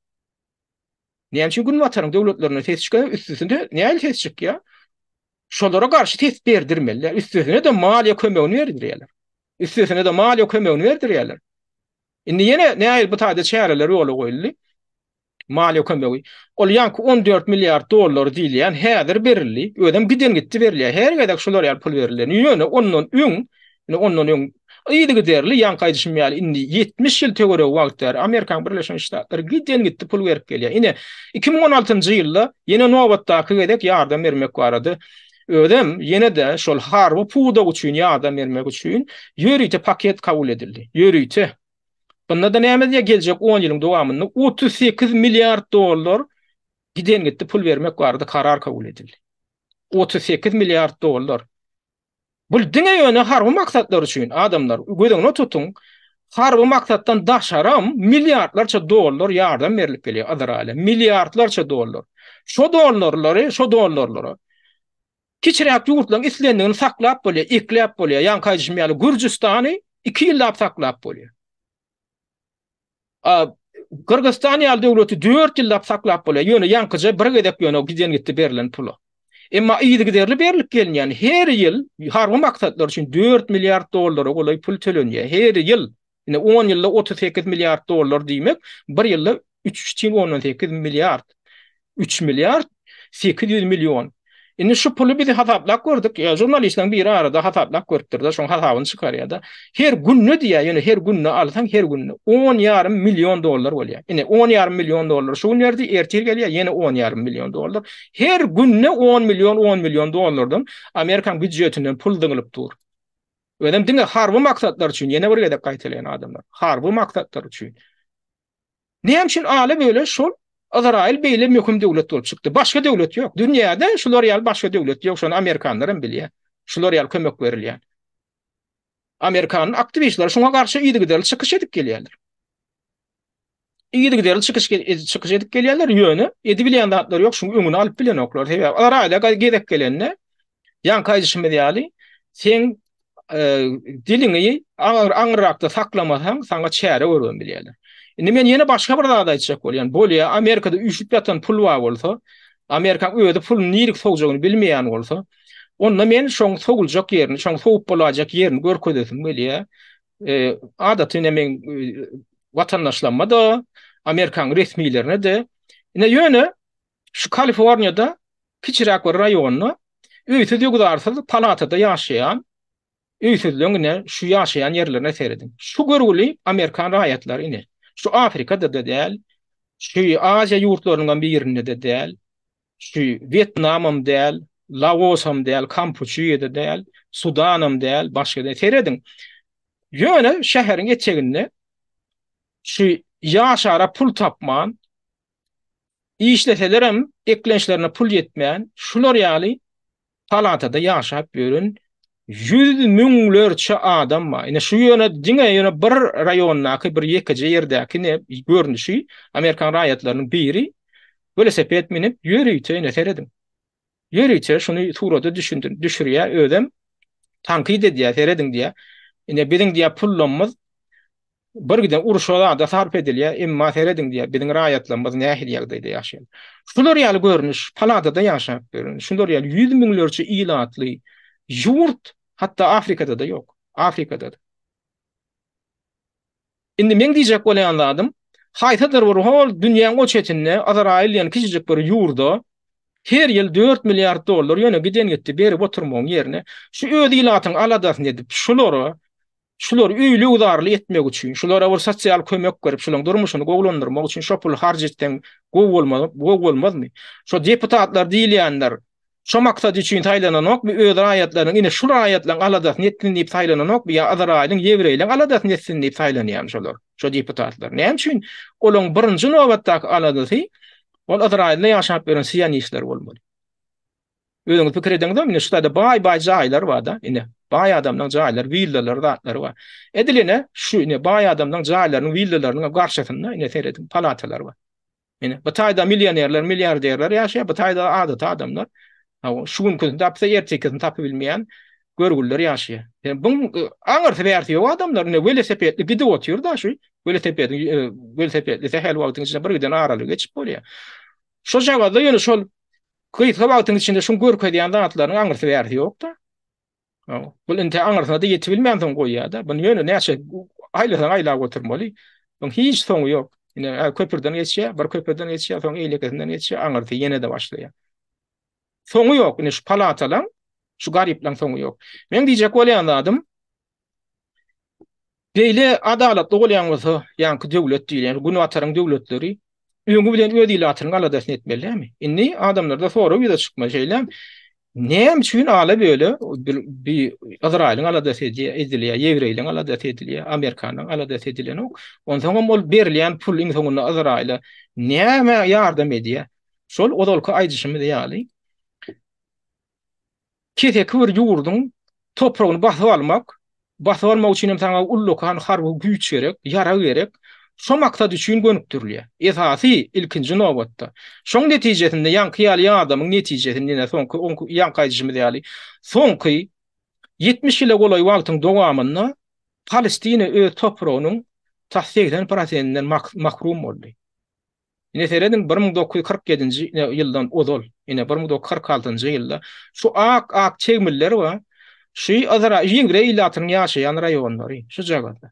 Näme üçin gün bataryň döwletlerine ses çykanok, üstüsinde näme ses çykýar? Şolara garşy ses berdirmeli, üstüsine de maliýe kömegini berdirýärler. Üstüsine de maliýe kömegini berdirýärler. Indi ýene nähili bu taýda çäreler ýola goýuldy? Maliýe kömegi. Ol ýaňky on dört milliard dollar diýilýän häzir berildi. Özem giden gitdi berilýär. Her gezek şular ýaly pul berilýär. Ýöne ondan öň, ine ondan öň yzygiderli ýaňky aýdyşym ýaly indi ýetmiş ýyl töweregi wagt bäri Amerikanyň Birleşen Ştatlary giden gitdi pul berip gelýär. Ine, iki müň on altynjy ýylda ýene nobatdaky gezek ýardam bermek barada Özem ýene-de şol harby pudak üçin ýardam bermek üçin ýörite paket kabul edildi. Ýörite. Bunda-da näme diýýär, geljek on ýylyň dowamynda otuz sekiz milliard dollar giden-gitdi pul bermek barada karar kabul edildi. Otuz sekiz milliard dollar. Bu diňe ýöne harby maksatlar üçin, adamlar, göz öňüne tutuň, Harby maksatdan daşaram milliardlarça dollar ýardam berilip gelýär Izraýyla. Milliardlarça dollar. Şo dollarlary, şo dollarlary kiçiräk ýurtlaryň islendigini saklap bolýar, ekläp bolýar. Ýaňky aýdyşym ýaly Gürjüstany iki ýyllap saklap bolýar. A Gyrgyzystan ýaly döwleti dört ýyllap saklap bolýar. Ýöne ýaňkyja bir gezek ýöne giden gitdi berlen pula. Emma yzygiderli berlip gelinýän her ýyl harby maksatlar üçin dört milliard dollara golaý pul tölenýär. Her ýyl. Ine, on ýylda otuz sekiz milliard dollar diýmek, bir ýylda üç çen ondan sekiz milliard. Üç milliard sekiz ýüz million. Indi şu puly biz hasaplap gördük. Ýa žurnalistleriň biri arada hasaplap görüpdir-de, şoň hasabyny çykarýar-da. Her günde diýýär, ýöne her günde alsaň, her günde on ýarym million dollar bolýar. Ine, on ýarym million dollar şu gün berdi, ertir gelýär, ýene on ýarym million dollar. Her günde 10 million 10 million dollardan Amerikan büdjetinden pul zyňylyp dur. Özem diňe harby maksatlar üçin, ýene bir gezek gaýtalaýan adamlar. Harby maksatlar üçin. Näme üçin ala böyle şol Izrail beýle möhüm döwlet bolup çykdy. Başga döwlet ýok. Dünýäde şular ýaly başga döwlet ýok. Şony amerikanlar hem bilýär. Şular ýaly kömek berilýär. Amerikan aktiwistleri şoňa garşy ýygy-gydaly çykyş edip gelýärler. Yzygiderli çykyş çykyş edip gelýärler, ýöne edibilýän zatlar ýok, şuň öňüni alyp bilenoklar. Sebäbi olar aýda gezek gelende, ýaňky aýdyşymyz ýaly, sen e, diliňi aňyrrakda saklamasaň, saňa çäre görüp bilýärler. Indi men ýene başga bir zat aýtjak bolýan. Bolýa, Amerikada üşüp ýatan pul bar bolsa, Amerikaň özi pul nirik sowjagyny bilmeýän bolsa, onda men şoň sowuljak ýerini, şoň sowup bolajak ýerini görkezesim gelýär. Adaty ine meň watandaşlaryma-da, Amerikanyň resmilerine-de, ine ýöne şu Kaliforniýada kiçiräk bir raýonda öýsüz-ýuwdarsyz palatada ýaşaýan öýsüzleň ine şu ýaşaýan ýerlerine serediň. Şu görgüli amerikan raýatlary ine şu Afrikada-da däl, şu Aziýa ýurtlarynyňam birinde-de däl, Şu Wýetnamam däl, Laosam däl, Kampuçýa-da däl, Sudanam däl, başga däl. Serediň. Ýöne şäheriň eteginde şu ýaşara pul tapman, işleselerem eklençlerine pul ýetmän, şular ýaly Palatada ýaşap ýören ýüz müňlerçe adam bar. Ine şu ýöne diňe ýöne bir raýondaky bir ýekeje ýerdäki ne görnüşi amerikan raýatlarynyň biri welosiped minip ýörite ine serediň. Ýörite şuny surata düşündir düşürýä özem tankyt edýä serediň diýä. Ine biziň diýä pullamyz Birgiden urşa zada sarp edilýär, emma serediň diýýär, biziň raýatlarymyz nähili ýagdaýda ýaşaýar. Şular ýaly görnüş paladada ýaşap ýören, şular ýaly ýüz müňlerçe ilatly ýurt hatda Afrikada-da ýok. Afrikada-da. Indi meň diýjek bolýan zadym, haýsydyr bir hol dünýäň o çetinde Azraýyl diýen kiçijik bir ýurda her ýyl dört milliard dollar ýöne giden gitdi berip oturmagyň ýerine, şu öz ilatyň aladasyny edip, şulara Şulary öýli-ugdarly etmek üçin, şulara bir sosial kömek berip, şularyň durmuşyny gowulandyrmak üçin şo puly harç etseň gowy bolmaz, gowy bolmazmy? Şo deputatlar diýilýänler şo maksat üçin saýlananokmy, öz raýatlarynyň, ine, şu raýatlaryň aladasyny etsin diýip saýlananokmy ýa Yzraýylyň, ýewreýleriň aladasyny etsin diýip saýlanýarmy şolar, şo deputatlar? Näme üçin? Olaryň birinji nobatdaky aladasy ol Yzraýylda ýaşap ýören sionistler bolmaly. Özüňiz pikir ediňizem, indi şu taýda baý-baý jaýlar bar-da, indi baý adamlaryň jaýlary, willalary, zatlary bar. Edil ine, şu ine baý adamlaryň jaýlarynyň, willalarynyň garşysynda ine serediň, palatalar bar. Ine, bu taýda millionerler, milliarderler ýaşaýar, bu taýda adaty adamlar, şu günküsini tapsa, ertekisini tapyp bilmeýän görgüliler ýaşaýar. Ýa buň aňyrsy-bärsi ýok adamlar, ine welosipedli gidip otyr-da şu, welosipediň, welosipedli sähel wagtyň içinde bir giden aralygy geçip bolýar. Şojagazda ýöne şol Gysga wagtyň içinde şuň görkezýän zatlaryň aňyrsy bärsi ýokda. Bul inte aňyrsyna-da ýetibilmänsoň goýýada. Buny ýöne näçe aýlasaň aýlap oturmaly. Buň hiç soňy ýok. Ine, köprüden geçýär, bir köprüden geçýär, soň eýlekisinden geçýär, aňyrsy ýene-de başlaýar. Soňy ýok. Ine, şu palatalaň, şu garyplaň soňy ýok. Meň diýjek bolýan zadym, Beýle adalatly bolýan bolsa, ýaňky döwlet diýilýän Günbataryň döwletleri öňi bilen öz ilatynyň aladasyny etmeli dälmi? Indi adamlarda sorag ýüze çykmaly, şeýlemi? Näme üçin ala böle bi Ysraýylyň aladasy edilýär, ýewreýliň aladasy edilýär, amerikanyň aladasy edilenok. Onsoňam ol berilýän pul iň soňunda Ysraýyla näme ýardam edýär? Şol ozalky aýdyşymyz ýaly, keseki bir ýurduň topragyny basyp almak, basyp almak üçin hem saňa ullakan harby güýç gerek, ýarag gerek, şo maksat üçin gönükdirilýär. Esasy, ilkinji nobatda. Şoň netijesinde ýaňky ýaly ýadamyň netijesinde ýene soňky oňk ýaňky aýdyşymyz ýaly soňky ýetmiş ýyla golaý wagtyň dowamynda Palestina öz topragynyň tas segsen prosentinden mahrum boldy. Ine serediň bir müň dokuz ýüz kyrk ýedinji ýyldan ozal, ine bir müň dokuz ýüz kyrk altynjy ýylda şu ak ak tegmiller we şu Yzra ýewreý ilatynyň ýaşaýan raýonlary şu jagada.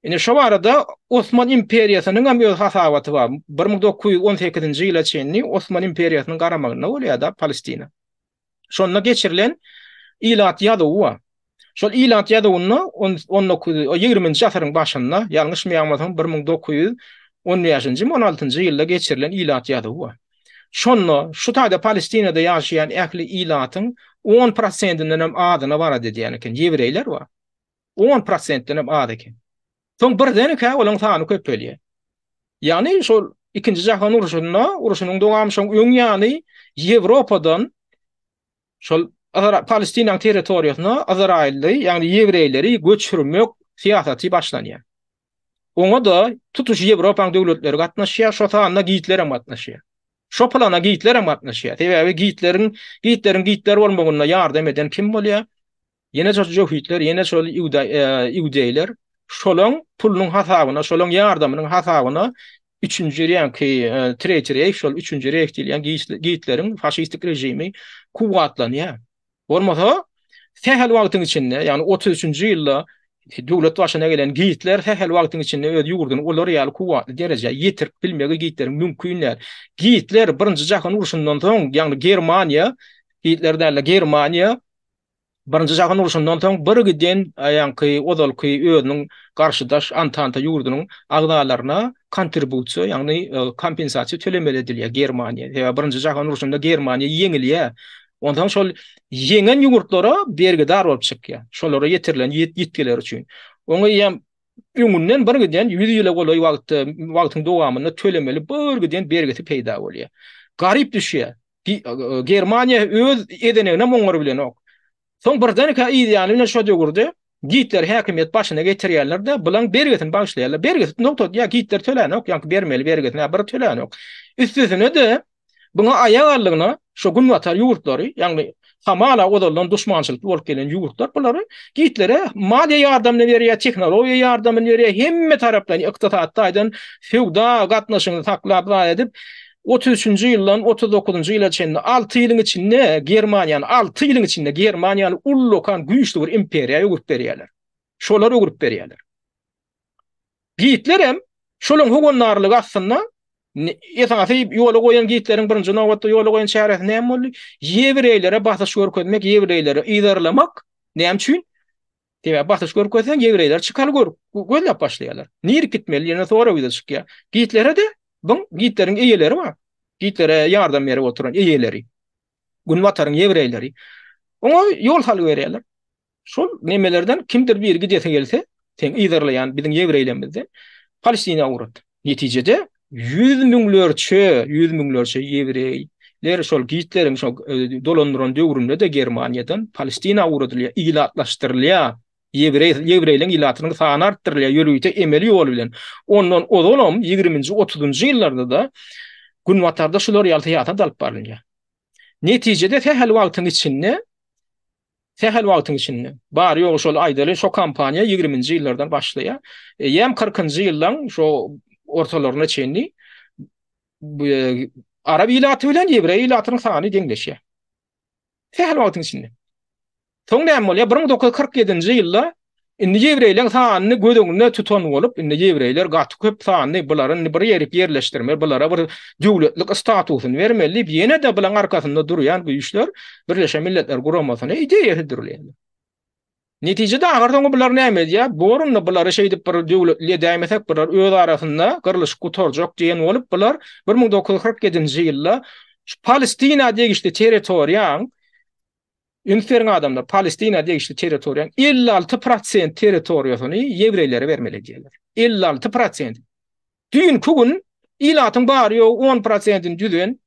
Ine şu barada Osman imperiýasynyň hem öz hasabaty bar. Bir müň dokuz ýüz on sekizinji ýyla çenli Osman imperiýasynyň garamagynda bolýar da Palestina. Şonda geçirilen ilat ýazuwy bar. Şol ilat ýazuwynda 19 20-nji asyryň başynda, ýalňyşmaýamyzam 1915-nji, 16-njy ýylda geçirilen ilat ýazuwy bar. Şonda şu taýda Palestinada ýaşaýan ähli ilatyň 10 prosentinden hem azyna barady diýen eken, ýewreýler bar. On prosentdenem az eken. Soň birdenkä olaň sany köpelýär. Ýagny şol Ikinji jahan urşunda, urşunyň dowamy şoň öň ýany Ýewropadan şol Palestinanyň territoriýasyna Ysraýylly, ýagny ýewreýleri göçürmek syýasaty başlanýar. Oňa-da tutuş Ýewropanyň döwletleri gatnaşýar, şo sanda Gitler hem gatnaşýar. Şo plana Gitler hem gatnaşýar. Sebäbi Gitleriň Gitleriň Gitler bolmagynda ýardam eden kim bolýar? Ýene şo jöhitler, ýene şo iudeýler şolaň pulunyň hasabyna, şolaň ýardamynyň hasabyna üçünji reňki, e, Treýçi Reýh, şol üçünji Reýh diýilýän Gitleriň faşistik režimi kuwwatlanýar. Bolmasa, sähel wagtyň içinde, ýagny otuz üçünji ýylda döwlet başyna gelen Gitler sähel wagtyň içinde öz ýurduny olar ýaly kuwwatly derejä ýetirip bilmegi Gitleriň mümkin däl. Gitler Birinji jahan urşundan soň, ýagny Germaniýa, Gitler däl-de, Germaniýa Birinji jahan urşundan soň birgiden ýaňky ozalky özüniň garşydaş Antanta ýurdunyň agzalaryna kontribusiýa, ýagny kompensasiýa tölemeli edilýär Germaniýa. Sebäbi birinji jahan urşunda Germaniýa ýeňilýär. Onsoň şol ýeňen ýurtlara bergidar bolup çykýar. Şolara ýetirilen ýitgiler üçin. Oňa eýýäm öňünden birgiden ýüz ýyla golaý wagtda wagtyň dowamynda tölemeli birgiden bergisi peýda bolýar. Garyp düşýär. Germaniýa öz edeneginem oňar bilenok. Soň birdenkä yz ýany bilen şo döwürde Gitler häkimiýet başyna getirýärler-de, bulaň bergisini bagyşlaýarlar. Bergisi nokta, ýa Gitler tölänok, ýa bermeli bergisini, ýa bir tölänok. Üstesine-de, buňa aýak aldygyna şo günbatar ýurtlary, ýagny hamala ozaldan duşmançylykly bolup gelen ýurtlar bulary Gitlere maliýe ýardamyny berýär, tehnologiýa ýardamyny berýär, hemme tarapdan ykdysady taýdan söwda gatnaşygyny saklap zaý edip, otuz üçünji ýyldan otuz dokuzynjy ýyla çenli alty ýylyň içinde Germaniýany, alty ýylyň içinde Germaniýany ullakan güýçli bir imperiýa öwürip berýärler. Şolar öwürip berýärler. Gitlerem şolaň howandarlygy astynda esasy ýola goýan gitleriň birinji nobatda ýola goýan çäresi näme boldy? Ýewreýlere basyş görkezmek, ýewreýleri yzarlamak. Näme üçin? Sebäbi basyş görkezseň ýewreýler çykaly gör, gözläp başlaýarlar. Nirek gitmeli ýene sorag ýüze çykýar. Gitlere-de bu gitleriň eýeleri bar. Gitlere ýardam berip oturan eýeleri. Günbataryň ýewreýleri. Oňa ýol salyberýärler. Şol nemelerden kimdir biri gidesi gelse, sen yzarlaýan biziň ýewreýlerimizde Palestina awrat. Netijede ýüz müňlerçe, ýüz müňlerçe ýewreý ler şol Gitleriň şol dolandyran döwründe-de Germaniýadan Palestina awradylýar, ilatlaşdyrylýar. Ýewreý, ýewreýleň ilatynyň sany artdyrylýar ýörite emeli ýol bilen. Ondan ozalam ýigriminji, otuzynjy ýyllarda-da Günbatarda şular ýaly syýasat alyp barylýar. Netijede sähel wagtyň içinde Sähel wagtyň içinde. Bary ýogy şol aýdaly şo kompaniýa ýigriminji ýyllardan başlaýar. Eýýäm kyrkynjy ýyllaň şo ortalaryna çenli arap ilaty bilen ýewreý ilatynyň sany deňleşýär. Sähel wagtyň içinde. Soň näme bolýar? Bir müň dokuz ýüz kyrk ýedinji ýylda Indi ýewreýleň sanyny göz öňünde tutan bolup, indi ýewreýler gaty köp sanly, bulary indi bir ýerik ýerleşdirmeli, bulara bir döwletlik statusyny bermeli diýip, ýene-de bulaň arkasynda durýan güýçler Birleşen Milletler Guramasyna ideýa hödürleýärler. Netijede ahyr soňy bular näme edýär? Bor indi bulary şeýdip bir döwletli edäýmesek, bular öz arasynda gyrlyşyp gutarjak diýen bolup, bular bir müň dokuz ýüz kyrk ýedinji ýylda şu Palestina degişli territoriýaň Üns beriň adamlar, Palestina degişli territoriýanyň elli alty prosent territoriýasyny ýewreýlere bermeli diýýärler. Elli alty prosent. Düýnki gün ilatyň bary ýogy on prosentini düzen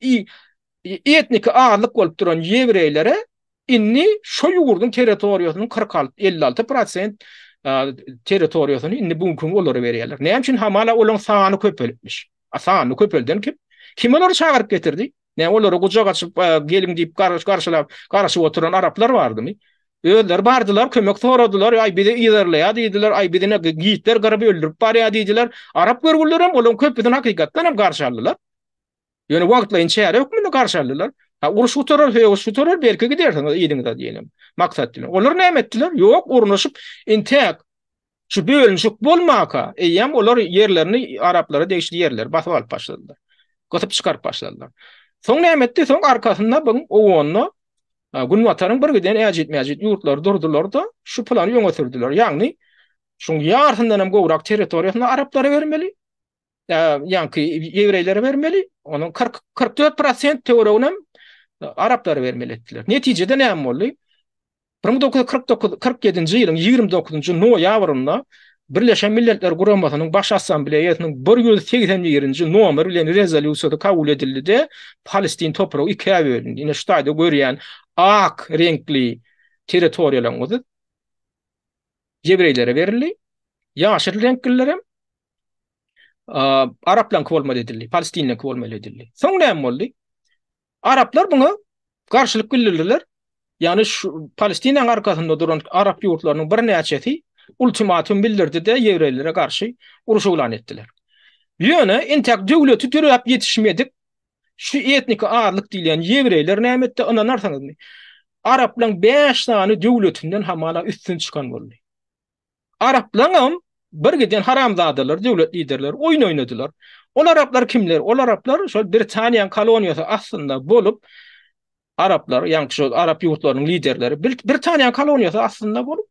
etniki azlyk bolup duran ýewreýlere indi şo ýurduň territoriýasynyň kyrk alty, elli alty prosent territoriýasyny indi bu günki gün olara berýärler. Näme üçin hamala olaryň sany köpelipmiş? A sanyny köpelden kim? Kim olary çagyryp getirdi? Näme olary gujak açyp geliň diýip garşylap garaşyp oturan araplar bardymy? Özleri bardylar, kömek soradylar, aý bizi ýerleýär diýdiler, aý bizi ne gitler gyryp öldürip barýar diýdiler. Arap görgüliler hem olaryň köpüsini hakykatdan hem garşy aldylar. Ýöne wagtlaýyn çäre hökmünde garşy aldylar. Ha uruş gutarar, söýüş gutarar, belki gidersiňiz ýeriňize diýenem. Maksat bilen. Olar näme etdiler? Ýok, urnaşyp, intäk Şu bölünişik bolmaka, eýýäm olar ýerlerini araplara degişli ýerleri basyp alyp başladylar. Gysyp çykaryp başladylar. Soň näme etdi? Soň arkasynda bu owanda Günbataryň bir giden äjit-mäjit ýurtlary durdular-da, şu plany öňe sürdüler. Ýagny, şuň ýarysyndan hem gowrak territoriýasyny araplara bermeli. ýaňky ýewreýlere bermeli, onuň kyrk, kyrk dört prosent töwereginem araplara bermeli etdiler. Netijede näme boldy? Bir müň dokuz ýüz kyrk dokuz, kyrk ýedinji ýylyň ýigrimi dokuzynjy noýabrynda Birleşen Milletler Guramasynyň Baş Assambleýasynyň bir ýüz segsen birinji nomer bilen rezolýusiýasy kabul edildi-de, Palestin topragy ikä bölündi. Ine, şu taýda görýän ak reňkli territoriýalaryň özi ýewreýlere berildi, ýaşyl reňklilerem Araplaryňky bolmaly edildi, Palestinliňki bolmaly edildi. Soň näme boldy? Araplar buna garşylyk bildirdiler. Ýagny şu Palestinaň arkasynda duran arap ýurtlarynyň birnäçesi ultimatum bildirdi-de ýewreýlere garşy uruş yglan etdiler. Ýöne entäk döwleti döräp ýetişmedik şu etniki azlyk diýilýän ýewreýler näme etdi, ynanarsyňyzmy? Araplaryň bäş sany döwletinden hamala üstün çykan boldy. Araplaňam bir giden haramzadalar döwlet liderleri oýun oýnadylar. Ol araplar kimler? Ol araplar şol Britaniýanyň koloniýasy astynda bolup araplar, ýagny şol arap ýurtlarynyň liderleri Britaniýanyň koloniýasy astynda bolup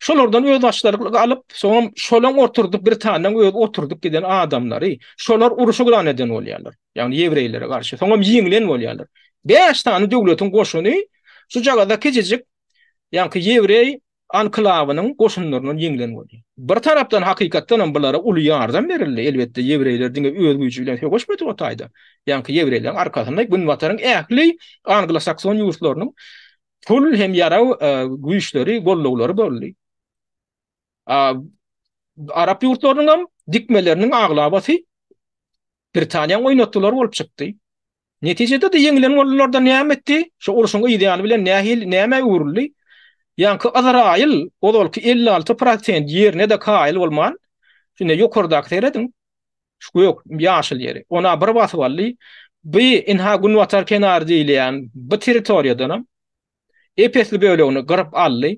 Şolardan öz başdalyk alyp, soňam şolaň oturdyp Britaniýanyň öz oturdyp giden adamlary, şolar uruşy güran eden bolýarlar. Ýagny ýewreýlere garşy, soňam ýeňlen bolýarlar. 5 sany döwletiň goşuny şu jagada kiçijik ýaňky ýewreý anklawynyň goşunlaryndan ýeňlen boldy. Bir tarapdan hakykatdan hem bulara uly ýardam berildi, elbetde ýewreýler diňe öz güýji bilen söweşmedi o taýda, ýaňky ýewreýleriň arkasynda Günbataryň ähli anglosakson ýurtlarynyň pul hem ýarag güýçleri, gollaglary boldy. Arap ýurtlarynyň hem dikmeleriniň aglabasy Britaniýanyň oýnatdylary bolup çykdy. Netijede-de ýeňilen bolunlarda näme etdi? Şo urşuň yz ýany bilen nähili, nämä öwrüldi? Ýaňky Yzraýyl ozalky elli alty prosent ýerine-de kaýyl bolman, ine, ýokardaky serediň, şu gök, ýaşyl ýeri, ona bir basyp aldy. Bu, ynha, günbatar kenary diýilýän bu territoriýadanam ep-esli bölegini gyryp aldy.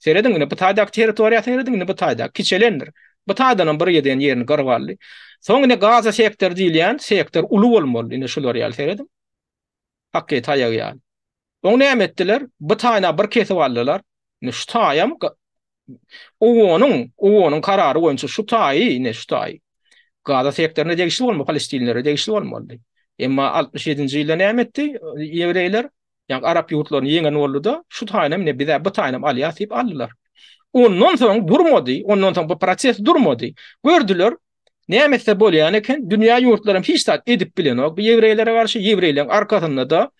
Serediň indi bu taýdaky territoriýa serediň indi bu taýdaky kiçelendir. Bu taýdanam bir ýeden ýerini gyryp aldy. Soň indi gaza sektor diýilýän sektor uly bolmaly indi şular ýaly serediň. Hakky taýagy ýaly. Oň näme etdiler? Bu taýna bir kesip aldylar. Indi şu taýam Owonyň, Owonyň karary boýunça şu taýy, indi şu taýy. Gaza sektoryna degişli bolmaly, palestinlere degişli bolmaly. Emma 67-nji ýylda näme etdi? Ýewreýler Ýa arap ýurtlaryny ýeňen boldy-da, şu taýynam ine biz-ä bu taýynam alýas diýip aldylar. Ondan soň durmady, ondan soň bu proses durmady. Gördüler, näme etse bolýan eken, dünýä ýurtlary hem hiç zat edip bilenok bu ýewreýlere garşy, ýewreýleň arkasynda-da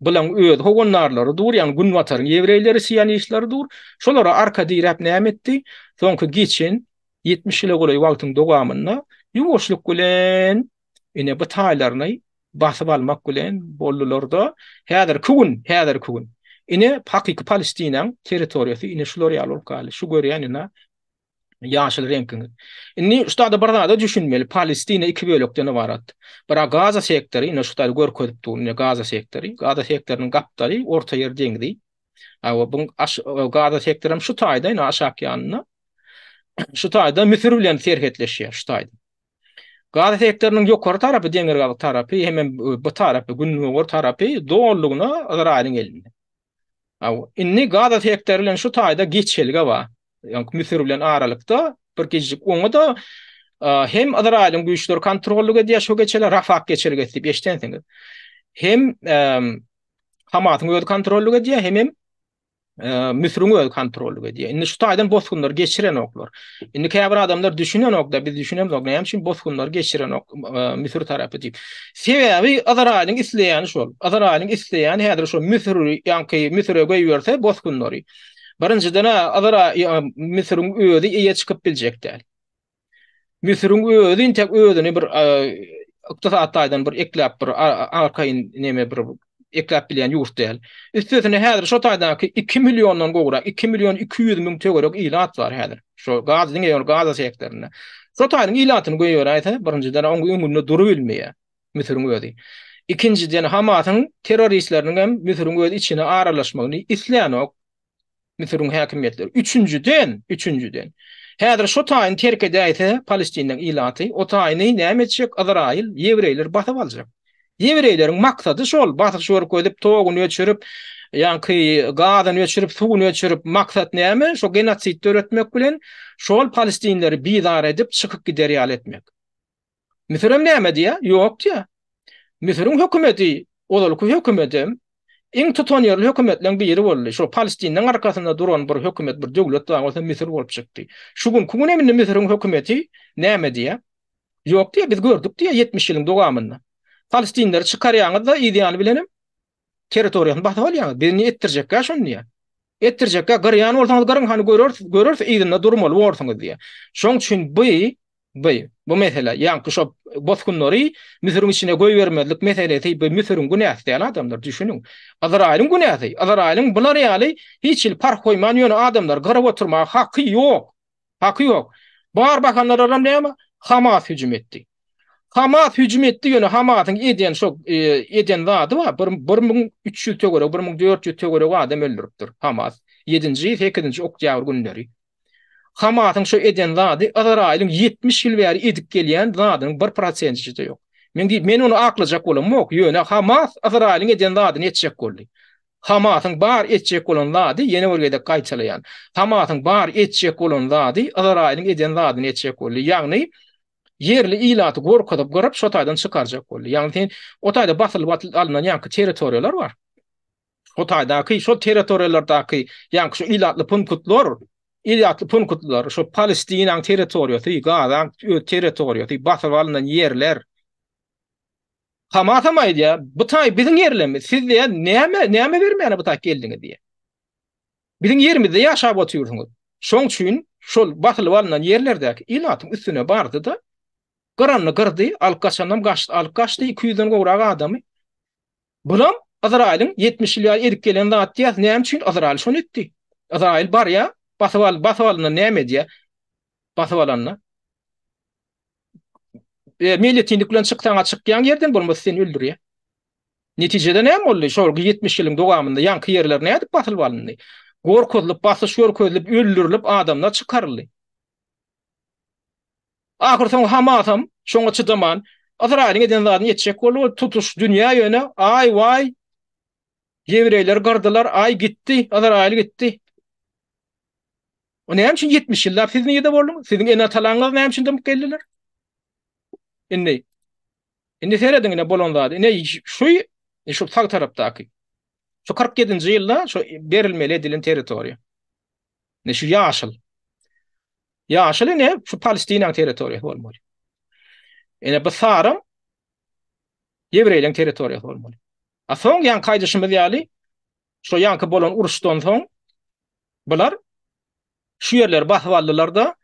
bulaň öz howandarlary dur, ýagny günbataryň ýewreýleri, sionistleri dur. Şolara arka diräp näme etdi? Soňky geçen ýetmiş ýyla golaý wagtyň dowamynda ýuwaşlyk bilen ine bu taýlaryny basyp almak bilen boldular-da, häzirki gün, häzirki gün ine hakyky Palestinaň territoriýasy ine şular ýaly bolup galdy. Şu görýän ine ýaşyl reňkiňiz. Indi şu taýda bir zada düşünmeli, Palestina iki bölekden ybarat. Bira Gaza sektory, ine şu taýda görkezip durun, ine Gaza sektory. Gaza sektorynyň gapdaly Orta ýer deňzi. Awa bu Gaza sektory hem şu taýda, ine aşak ýanynda. Şu taýda Müsür bilen serhetleşýär şu taýda. Gaza sektorynyň ýokary tarapy, demirgazyk tarapy hem bu tarapy, gündogar tarapy dolulygyna Ysraýylyň elinde. Aw, indi Gaza sektory bilen şu taýda geçelge bar. Ýok, Müsür bilen aralykda bir gijjik oňa-da hem Ysraýylyň güýçleri kontrollyk edýär şu geçelge, Rafah geçelgesi diýip eşidensiňiz. Hem Hamasyň özi kontrollyk edýär, hemem Müsüriň özi kontrollyk edýär. Indi şu taýdan bosgunlary geçirenoklar. Indi käbir adamlar düşünenok-da, biz düşünemzok, näme üçin bosgunlary geçirenok Müsür tarapy diýip. Sebäbi Ysraýylyň isleýäni şol. Ysraýylyň isleýäni häzir şu Müsüri, ýaňky Müsüre goýberse bosgunlary. Birinjiden-ä Ysraý, Müsüriň özi eýe çykyp biljek däl. Müsüriň özi intek özüni bir ykdysady taýdan bir ekläp bir arkaýyn neme bir ekläp bilýän ýurt däl. Üstesine häzir şo taýdaky 2 milliondan gowrak, 2 million 200 müň töwerek ilat bar häzir. Şo gaz diňe ýol gaz sektorynda. Şo taýyň ilatyny goýberäýse, birinjiden oň öňünde durup bilmeýär Müsüriň özi. Ikinjiden Hamasyň terroristleriniň hem Müsüriň öz içine aralaşmagyny islänok. Müsüriň häkimiýetleri. Üçünjiden, üçünjiden. Häzir şu taýyny terk edäýse, Palestiniň ilaty, o taýyny näme etjek? Yzraýyl, ýewreýler basyp aljak. Ýewreýleriň maksady şol, basyş görkezip, toguny öçürip, ýaňky gazyny öçürip, suwuny öçürip, maksat näme? Şo genosid döretmek bilen, şol palestinleri bizar edip, çykyp gider ýaly etmek. Müsürem näme diýä? Ýok diýä. Müsüriň hökümeti ozalky hökümetem iň tutanýerli hökümetleriň biri boldy. Şo Palestiniň arkasynda duran bir hökümet, bir döwlet bar, olsa Müsür bolup çykdy. Şu günki günem indi Müsüriň hökümeti näme diýä? Ýok diýä, biz gördük diýä ýetmiş ýylyň dowamynda. Palestinleri çykarýaňyz-da yzýany bilenem territoriýasyny basyp alýaňyz. Biz indi etdirjekkä şony diýýär. Etdirjekkä gyrýan bolsaňyz gyryň hany görersiz, görersiz yzynda durmaly borsuňyz diýýär. Şoň üçin bu bu bu mesele ýaňky şo bosgunlary Müsüriň içine goýbermezlik meselesi bu Müsüriň günäsi däl adamlar düşüniň. Yzraýylyň günäsi. Yzraýylyň bular ýaly hiç hili parh goýman ýöne adamlary gyryp oturmaga haky ýok. Haky ýok. Bar bahanalaram näme? Hamas hüjüm etdi. Hamas hüjüm etdi ýöne Hamasyň edýän şo e, edýän zady bar. 1300 töweregi, 1400 töweregi adam öldüripdir Hamas. 7-nji, 8-nji oktýabr günleri. Hamasyň şo edýän zady Izraýylyň 70 ýyl bäri edip gelýän zadynyň 1%-de ýok. Men diýip, men ony aklajak bolam, ýok, ýöne Hamas Izraýylyň edýän zadyny etjek boldy. Hamasyň bar etjek bolan zady ýene bir gezek gaýtalaýan. Hamasyň bar etjek bolan zady Yzraýylyň eden zadyny etjek boldy. Ýagny ýerli ilaty gorkuzyp gyryp şo taýdan çykarjak boldy. Ýagny sen o taýda basylyp alnan ýaňky territoriýalar bar. O taýdaky şo territoriýalardaky ýaňky şo ilatly punkutlar Ilatly punkutlar şo Palestinaň territoriýasy, Gazaň öz territoriýasy, basyp alnan ýerler. Hamasam aýdýar, bu taý biziň ýerlerimiz, siz diýýär, näme, näme bermäne bu taý geldiňiz diýýär. Biziň ýerimizde ýaşap otyrsyňyz. Şoň üçin şol basylyp alnan ýerlerdäki ilatyň üstüne bardy-da, gyranyny gyrdy, alyp gaçanam gaçdy, alyp gaçdy iki ýüzden gowrak adamy. Bulam Yzraýylyň 70 ýyl ýaly edip gelen zat diýýär, näme üçin Yzraýyl şony etdi? Yzraýyl barýar, basyp al, basyp alyndan näme edýär? Basyp alanda. E, meýletinlik bilen çyksaň, çykýan ýerden bolmasa seni öldürýär. Netijede näme boldy? Şol 70 ýylyň dowamynda ýaňky ýerler nädip basylyp alyndy? Gorkuzylyp, basyş görkezilip, öldürilip adamlar çykaryldy. Ahyr soň Hamasam şoňa çydaman, Ysraýylyň eden zadyny etjek boldy, ol tutuş dünýä ýöne, aý waý, ýewreýleri gyrdylar, aý gitdi, Ysraýyl gitdi. O näme üçin 70 ýyllap siz nirede bolduňyz? Siziň ene-atalaryňyz näme üçin dymyp geldiler? Indi Indi serediň ine bolan zady. Ine şu şu sag tarapdaky. Şu 47-nji ýylda şu berilmeli edilen territoriýa. Ne şu ýaşyl. Ýaşyl ine şu Palestinaň territoriýasy bolmaly. Ine bu saryň Ýewreýleriň territoriýasy bolmaly. A soň ýan kaýdyşymyz ýaly Şo ýaňky bolan uruşdan soň bular şu ýerleri basyp aldylar-da,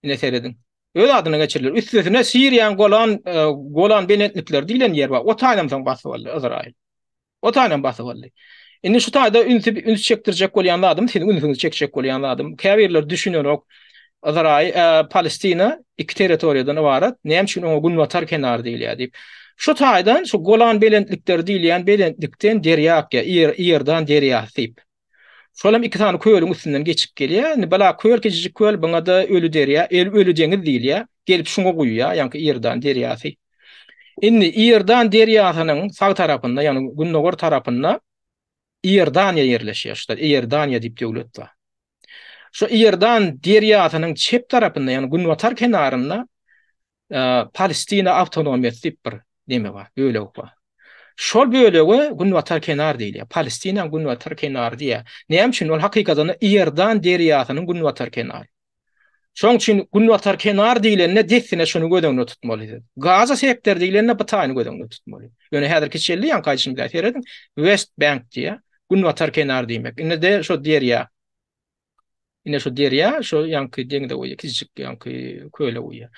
ine serediň, öz adyna geçirdiler. Üstesine Siriýanyň Golan e, Golan belentlikleri diýlen ýer bar. O taýynam soň basyp aldy Izraýyl. O taýynam basyp aldy. Indi şu taýda ünsi üns çekdirjek bolýan zadym, siziň ünsüňizi çekjek bolýan zadym. Käbirler düşünenok. Yzraýyl, Palestina iki territoriýadan ybarat, näme üçin oňa günbatar kenar diýilýär diýip. Şu taýdan şu Golan belentlikleri diýilýän belentlikden derýa akýar, Iordan derýasy diýip. Şol hem iki sany kölüň üstünden geçip gelýär. Indi bala köl kiçijik köl, buňa-da Öli derýa, Öli deňiz diýilýär. Gelip şuňa guýýar, ýaňky Iordan derýasy. Indi Iordan derýasynyň sag tarapynda, ýagny gündogar tarapynda Iordaniýa ýerleşýär. Şuda Iordaniýa diýip döwlet bar. Şu Iordan derýasynyň çep tarapynda, ýagny günbatar kenarynda Palestina awtonomiýasy diýip bir neme bar, bölek bar. Şol bölege günbatar kenar diýilýär. Palestinaň günbatar kenary diýýär. Näme üçin? Ol hakykatdan Iordan derýasynyň günbatar kenary. Şoň üçin Günbatar kenar diýlende dessine şuny göz öňünde tutmaly. Gaza sektor diýlende bu taýyny göz öňünde tutmaly. Ýöne häzirki çelli ýaňky aýdyşyny bir serediň. West Bank diýýär. Günbatar kenar diýmek. Indi de şu derýa. Indi şu derýa, şu ýaňky deňize goýýar, kiçijik ýaňky köle goýýar.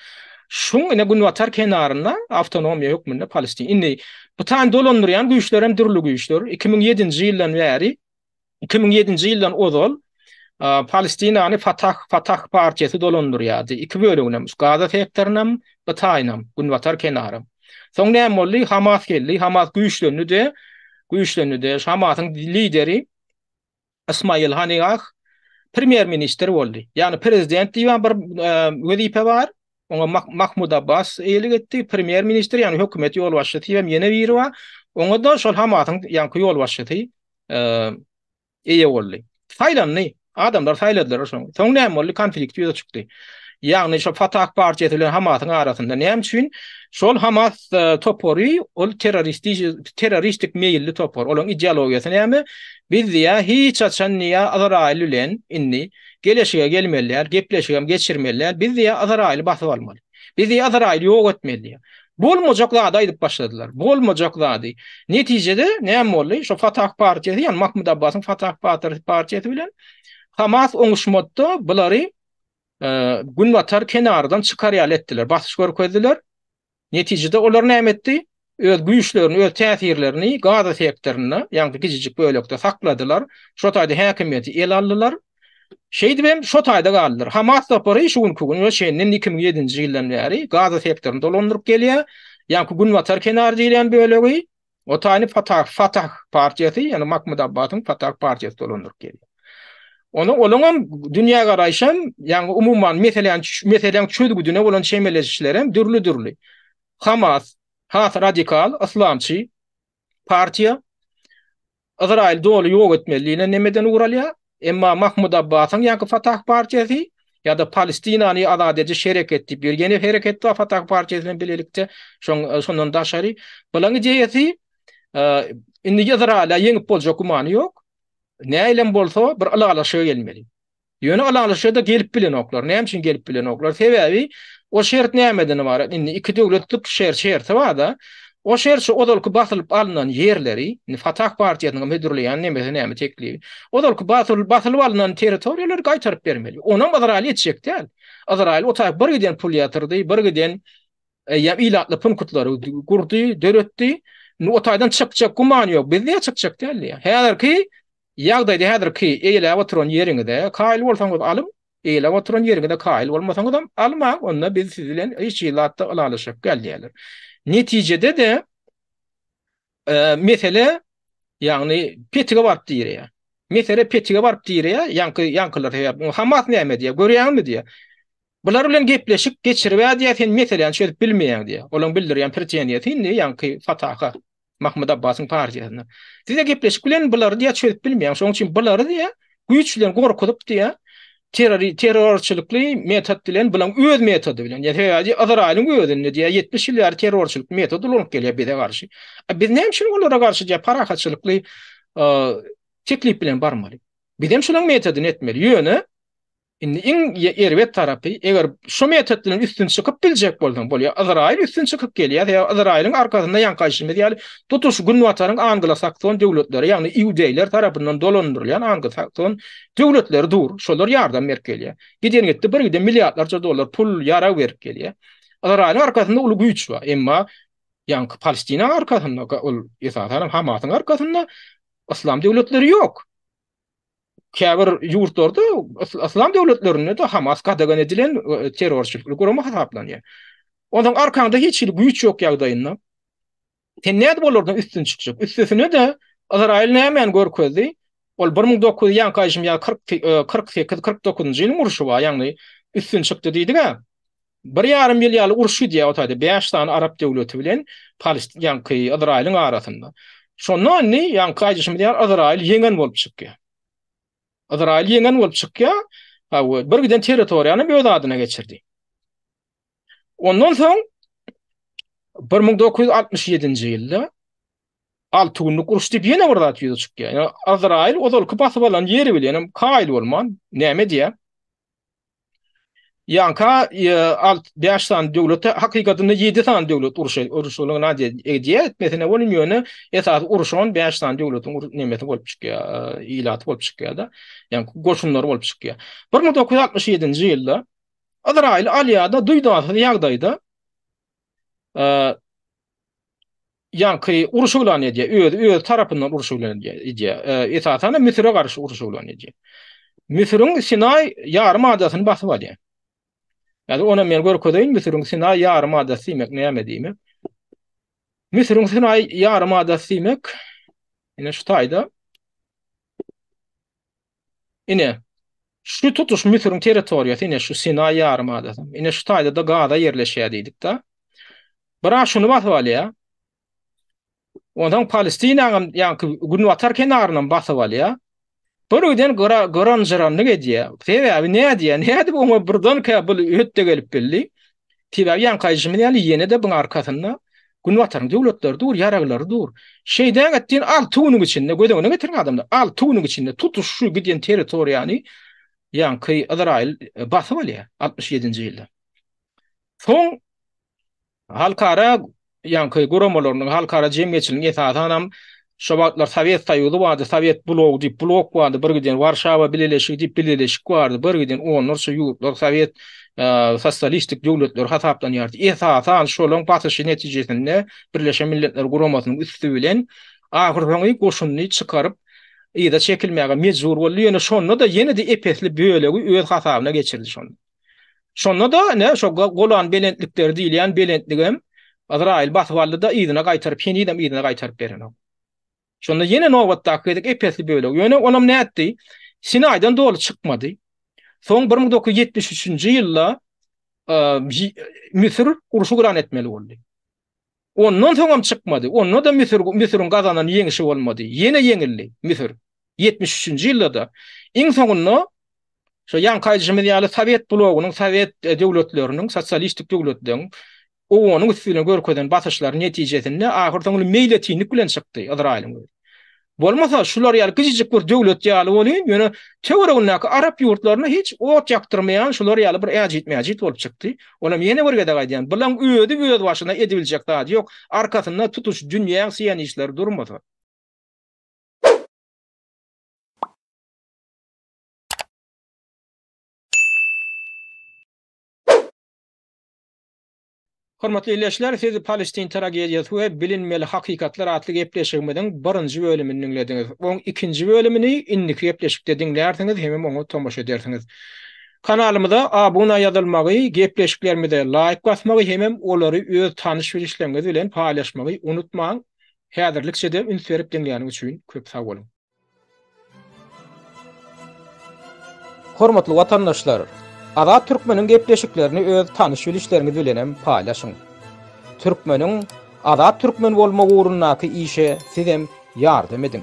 Şuň indi günbatar kenarynda awtonomiýa hökmünde Palestina. Indi bu taýyny dolandyrýan güýçler hem dürli güýçler. 2007-nji ýyldan bäri Iki müň ýedinji ýyldan ozal Palestinany Fatah, Fatah partiýasy dolandyrýardy. Iki böleginem, şu Gaza sektorynam, Gytaýynam, günbatar kenaram. Soň näme boldy? Hamas geldi. Hamas güýçlendi-de, güýçlendi-de, Hamasyň lideri Ismail Haniyah premýer-ministr boldy. Ýagny prezident diýibem bir wezipe bar, Oňa Mahmud Abbas eýelik etdi, premýer-ministr, ýagny hökümet ýolbaşçysy hem ýene biri bar. Oňa-da şol Hamasyň ýaňky ýolbaşçysy eýe boldy. Saýlandy. Adamlar saýladylar şony. Soň näme boldy? Konflikt ýüze çykdy. Ýagny şol Fatah partiýasy bilen Hamasyň arasynda. Näme üçin? Şol Hamas topary ol terroristik meýilli topar. Olaryň ideologiýasy näme? Biz diýýär, hiç haçan diýýär Ysraýyl bilen indi Geleşige gelmeli däl, gepleşigem geçirmeli däl, biz diýýär Yzraýyly basyp almaly. Biz diýýär Yzraýyly ýok etmeli diýýär. Bolmajak zady aýdyp başladylar. Bolmajak zady. Netijede näme boldy? Şo Fatah partiýasy, ýagny Mahmud Abbasyň Fatah partiýasy bilen Hamas oňuşmatda bulary günbatar kenardan çykar ýaly etdiler, basyş görkezdiler. Netijede olar näme etdi? Öz güýçlerini, öz täsirlerini Gaza sektorynda, ýagny bu kiçijik bölekde sakladylar. Şo taýda häkimiýeti ele aldylar. Şeýdip hem şo taýda galdylar. Hamas topary şu günki güne çenli iki müň ýedinji ýyldan bäri Gaza sektoryny dolandyryp gelýär. Ýagny günbatar kenary diýlen bölegi Otany Fatah, Fatah partiýasy, ýagny Mahmud Abbasyň Fatah partiýasy dolandyryp gelýär. Onuň olaňam dünýägaraýşam, ýagny umuman meseläni meseläň çözgüdine bolan çemeleşişlerem dürli-dürli. Hamas, has radikal, yslamçy partiýa. Ysraýyl doly ýok etmeli diýlen nemeden ugur alýar, emma Mahmud Abbasyň ýa-ki Fatah partiýasy, ýa-da Palestinany azat ediş hereketi diýip ýör. Ýene hereket bar Fatah partiýasy bilen bilelikde, şoň şondan daşary. Bulaň ideýasy indi Ysraýyla ýeňip boljak gümany ýok. Nähilem bolsa bir ylalaşyga gelmeli. Ýöne ylalaşyga-da gelip bilenoklar. Näme üçin gelip bilenoklar? Sebäbi o şert nämeden ybarat? Indi iki döwletlik şer şerti bar-da, o şer şu ozalky basylyp alnan ýerleri, indi Fatah partiýasynyň hödürleýän nemesi näme teklibi, ozalky basylyp basylyp alnan territoriýalary gaýtaryp bermeli. Onam Ysraýyl etjek däl. Ysraýyl o tarap bir giden pul ýatyrdy, bir giden eýýäm ilatly punkutlary gurdy, döretdi. Indi o taýdan çykjak gümany ýok. Bizde çykjak däldi. Häzirki Ýagdaýda häzirki eýläp oturan ýeriňize kaýyl bolsaňyz alyň, eýläp oturan ýeriňize kaýyl bolmasaňyzam almaň, onda biz siz bilen hiç hili zatda ylalaşak däl diýýärler. Netijede-de mesele ýagny petige baryp direýär. Mesele petige baryp direýär, ýaňky ýaňkylar sebäpli. Hamas näme diýýär, görýäňizmi diýýär. Bular bilen gepleşik geçiribä diýýär, sen meseläni çözüp bilmeýäň diýýär. Olaň bildirýän preteniýasy indi ýaňky fataka Mahmud Abbasyň partiýasyna. Size gepleşik bilen bulary diýýär çözüp bilmeýäň. Şoň üçin bulary diýýär güýç bilen gorkuzyp diýýär terror terrorçylykly metod bilen bulaň öz metody bilen. Ýa sebäbi Izraýylyň özünde diýýär 70 ýyl bäri terrorçylyk metod ulanyp gelýär bize garşy. A biz näme üçin olara garşy diýýär parahatçylykly teklip bilen barmaly. Bizem şunuň metodyny etmeli. Ýöne Indi iň erbet tarapy, eger şu metod bilen üstün çykyp biljek bolsaň, bolýar. Ýzraýyl üstün çykyp gelýär, sebäbi Ýzraýylyň arkasynda ýaňky aýtşymyz ýaly tutuş günbataryň anglasakson döwletleri, ýagny iudeýler tarapyndan dolandyrylýan anglasakson döwletleri dur. Şolar ýardam berip gelýär. Giden-gitdi birgiden milliardlarça dollar pul, ýarag berip gelýär. Ýzraýylyň arkasynda uly güýç bar. Emma ýaňky Palestinaň arkasynda, ol esasan hem Hamasyň arkasynda yslam döwletleri ýok. käbir ýurtlarda yslam döwletlerinde de Hamas gadagan edilen e, terrorçylykly gurama hasaplanýar. Ondan arkanda hiç hili güýç ýok ýagdaýynda sen nädip olardan üstün çykjak? Üstesine de Izrail nämäni görkezdi? Ol 1900 ýan gaýşym ýa 48 49-njy ýylyň urşy bar, ýagny üstün çykdy diýdik-ä. Bir ýarym ýyl ýaly uruş gidýär o taýda bäş sany arap döwleti bilen Palestin ýaňky Ysraýylyň arasynda. Şonda indi ýaňky aýdyşymyz ýaly Ysraýyl ýeňen bolup çykýar. Ysraýyl ýeňen bolup çykýar. Hawa, bir giden territoriýany öz adyna geçirdi. Ondan soň 1967-nji ýylda alty günlük uruş diýip ýene bir zat ýüze çykýar. Ýa Ysraýyl ozalky basyp alan ýeri bilen hem kaýyl bolman näme diýýär? Ýanka alt bäş sany döwlete hakykatynda ýedi sany döwlet urşa urşulygy nade edýä etmesine bolan ýöne esasy urşan bäş sany döwletiň ur nemesi bolup çykýa ilaty bolup çykýada ýa goşunlary bolup çykýa bir müň dokuz ýüz altmyş ýedinji ýylda ýazraýyly alýada duýdansyz ýagdaýda ýaňky urşy yglan edýär, özi öz tarapyndan urşy yglan edýär, edýär. E, esasan Müsüre garşy urşy yglan edýär. Müsüriň Sinaý ýarym adasyny basyp alýar. Ýa-da ony men görkezeýin, Müsüriň Sinaý ýarym adasy diýmek näme diýmek? Müsüriň Sinaý ýarym adasy diýmek, ine şu taýda Ine, şu tutuş Müsüriň territoriýasy, ine, şu Sinaý ýarym adasy, ine, şu taýda-da Gaza ýerleşýär diýdik-de. Biraz şuny basyp alýar. Onsoň Palestinanyň hem ýaňky günbatar kenaryny basyp alýar. Birden gyran-jyranlyk edýär. Sebäbi nädýär? Nädip oňa birdenkä bu ötde gelip bildi? Sebäbi ýaňky aýdyşymyz ýaly ýene-de buň arkasynda Günbataryň döwletleri dur, ýaraglary dur. Şeýdäň et diýen alty günüň içinde göz öňüne getiriň adamlar. Alty günüň içinde tutuş şu gidýän territoriýany ýaňky Ysraýyl basyp alýar altmyş ýedinji ýylda. Soň halkara ýaňky guramalarynyň, halkara jemgyýetçiliginiň esasanam şo wagtlar Sowet Soýuzy bardy, Sowet blogy diýip blok bardy, birgiden Warşawa bileleşigi diýip bileleşik bardy, birgiden onlarça ýurtlar sowet sosialistik döwletleri hasaplanýardy. Esasan şolaryň basyşy netijesinde Birleşen Milletler Guramasynyň üsti bilen ahyrsoňy goşunyny çykaryp yza çekilmäge mejbur boldy, ýöne şonda-da ýene-de ep-esli bölegi öz hasabyna geçirdi şonda. Şonda-da ine şo Golan belentlikleri diýilýän belentligem Azraýyl basyp aldy-da yzyna gaýtaryp, henizem yzyna gaýtaryp berenok. Şonda ýene nobatdaky gezek epesli bölegi, ýöne onam nätdi? Sinaýdan doly çykmady. Soň 1973-nji ýylda Müsür urşy güran etmeli boldy. Ondan soňam çykmady. Onda-da Müsür, Müsüriň gazanan ýeňişi bolmady. Ýene ýeňildi Müsür. Ýetmiş üçünji ýylda-da. Iň soňunda, şo ýaňky aýdyşymyz ýaly, sowet blogynyň, sowet döwletleriniň, sosialistik döwletleriň owanyň üstüne görkezen basyşlarynyň netijesinde ahyrsoňy meýletinlik bilen çykdy Ysraýylyň özi. Bolmasa, şular ýaly kiçijik bir döwlet ýaly bolýyn, ýöne töweregindäki arap ýurtlaryna hiç ot ýakdyrmaýan şular ýaly bir äjit-mäjit bolup çykdy. Olam ýene bir gezek aýdýan, bulaň özi öz başyna edibiljek zady ýok, arkasynda tutuş dünýäň siýonistleri durmasa. Hormatly ildeşler, siz Palestin tragediýasy we bilinmeli hakykatlar atly gepleşigimiziň birinji bölümini diňlediňiz. Oň ikinji bölümini indiki gepleşikde diňlärsiňiz hemem oňa tomaşa edersiňiz. Kanalymyza abuna ýazylmagy, gepleşiklerimize laýk basmagy hemem olary öz tanyş-bilişleriňiz bilen paýlaşmagy unutmaň. Häzirlikçe-de üns berip diňläniň üçin köp sag boluň. Hormatly watandaşlar! Azat Türkmeniň gepleşiklerini öz tanyş-bilişleriňiz bilenem paýlaşyň. Türkmeniň Azat Türkmen bolmagy ugrundaky işe sizem ýardam ediň!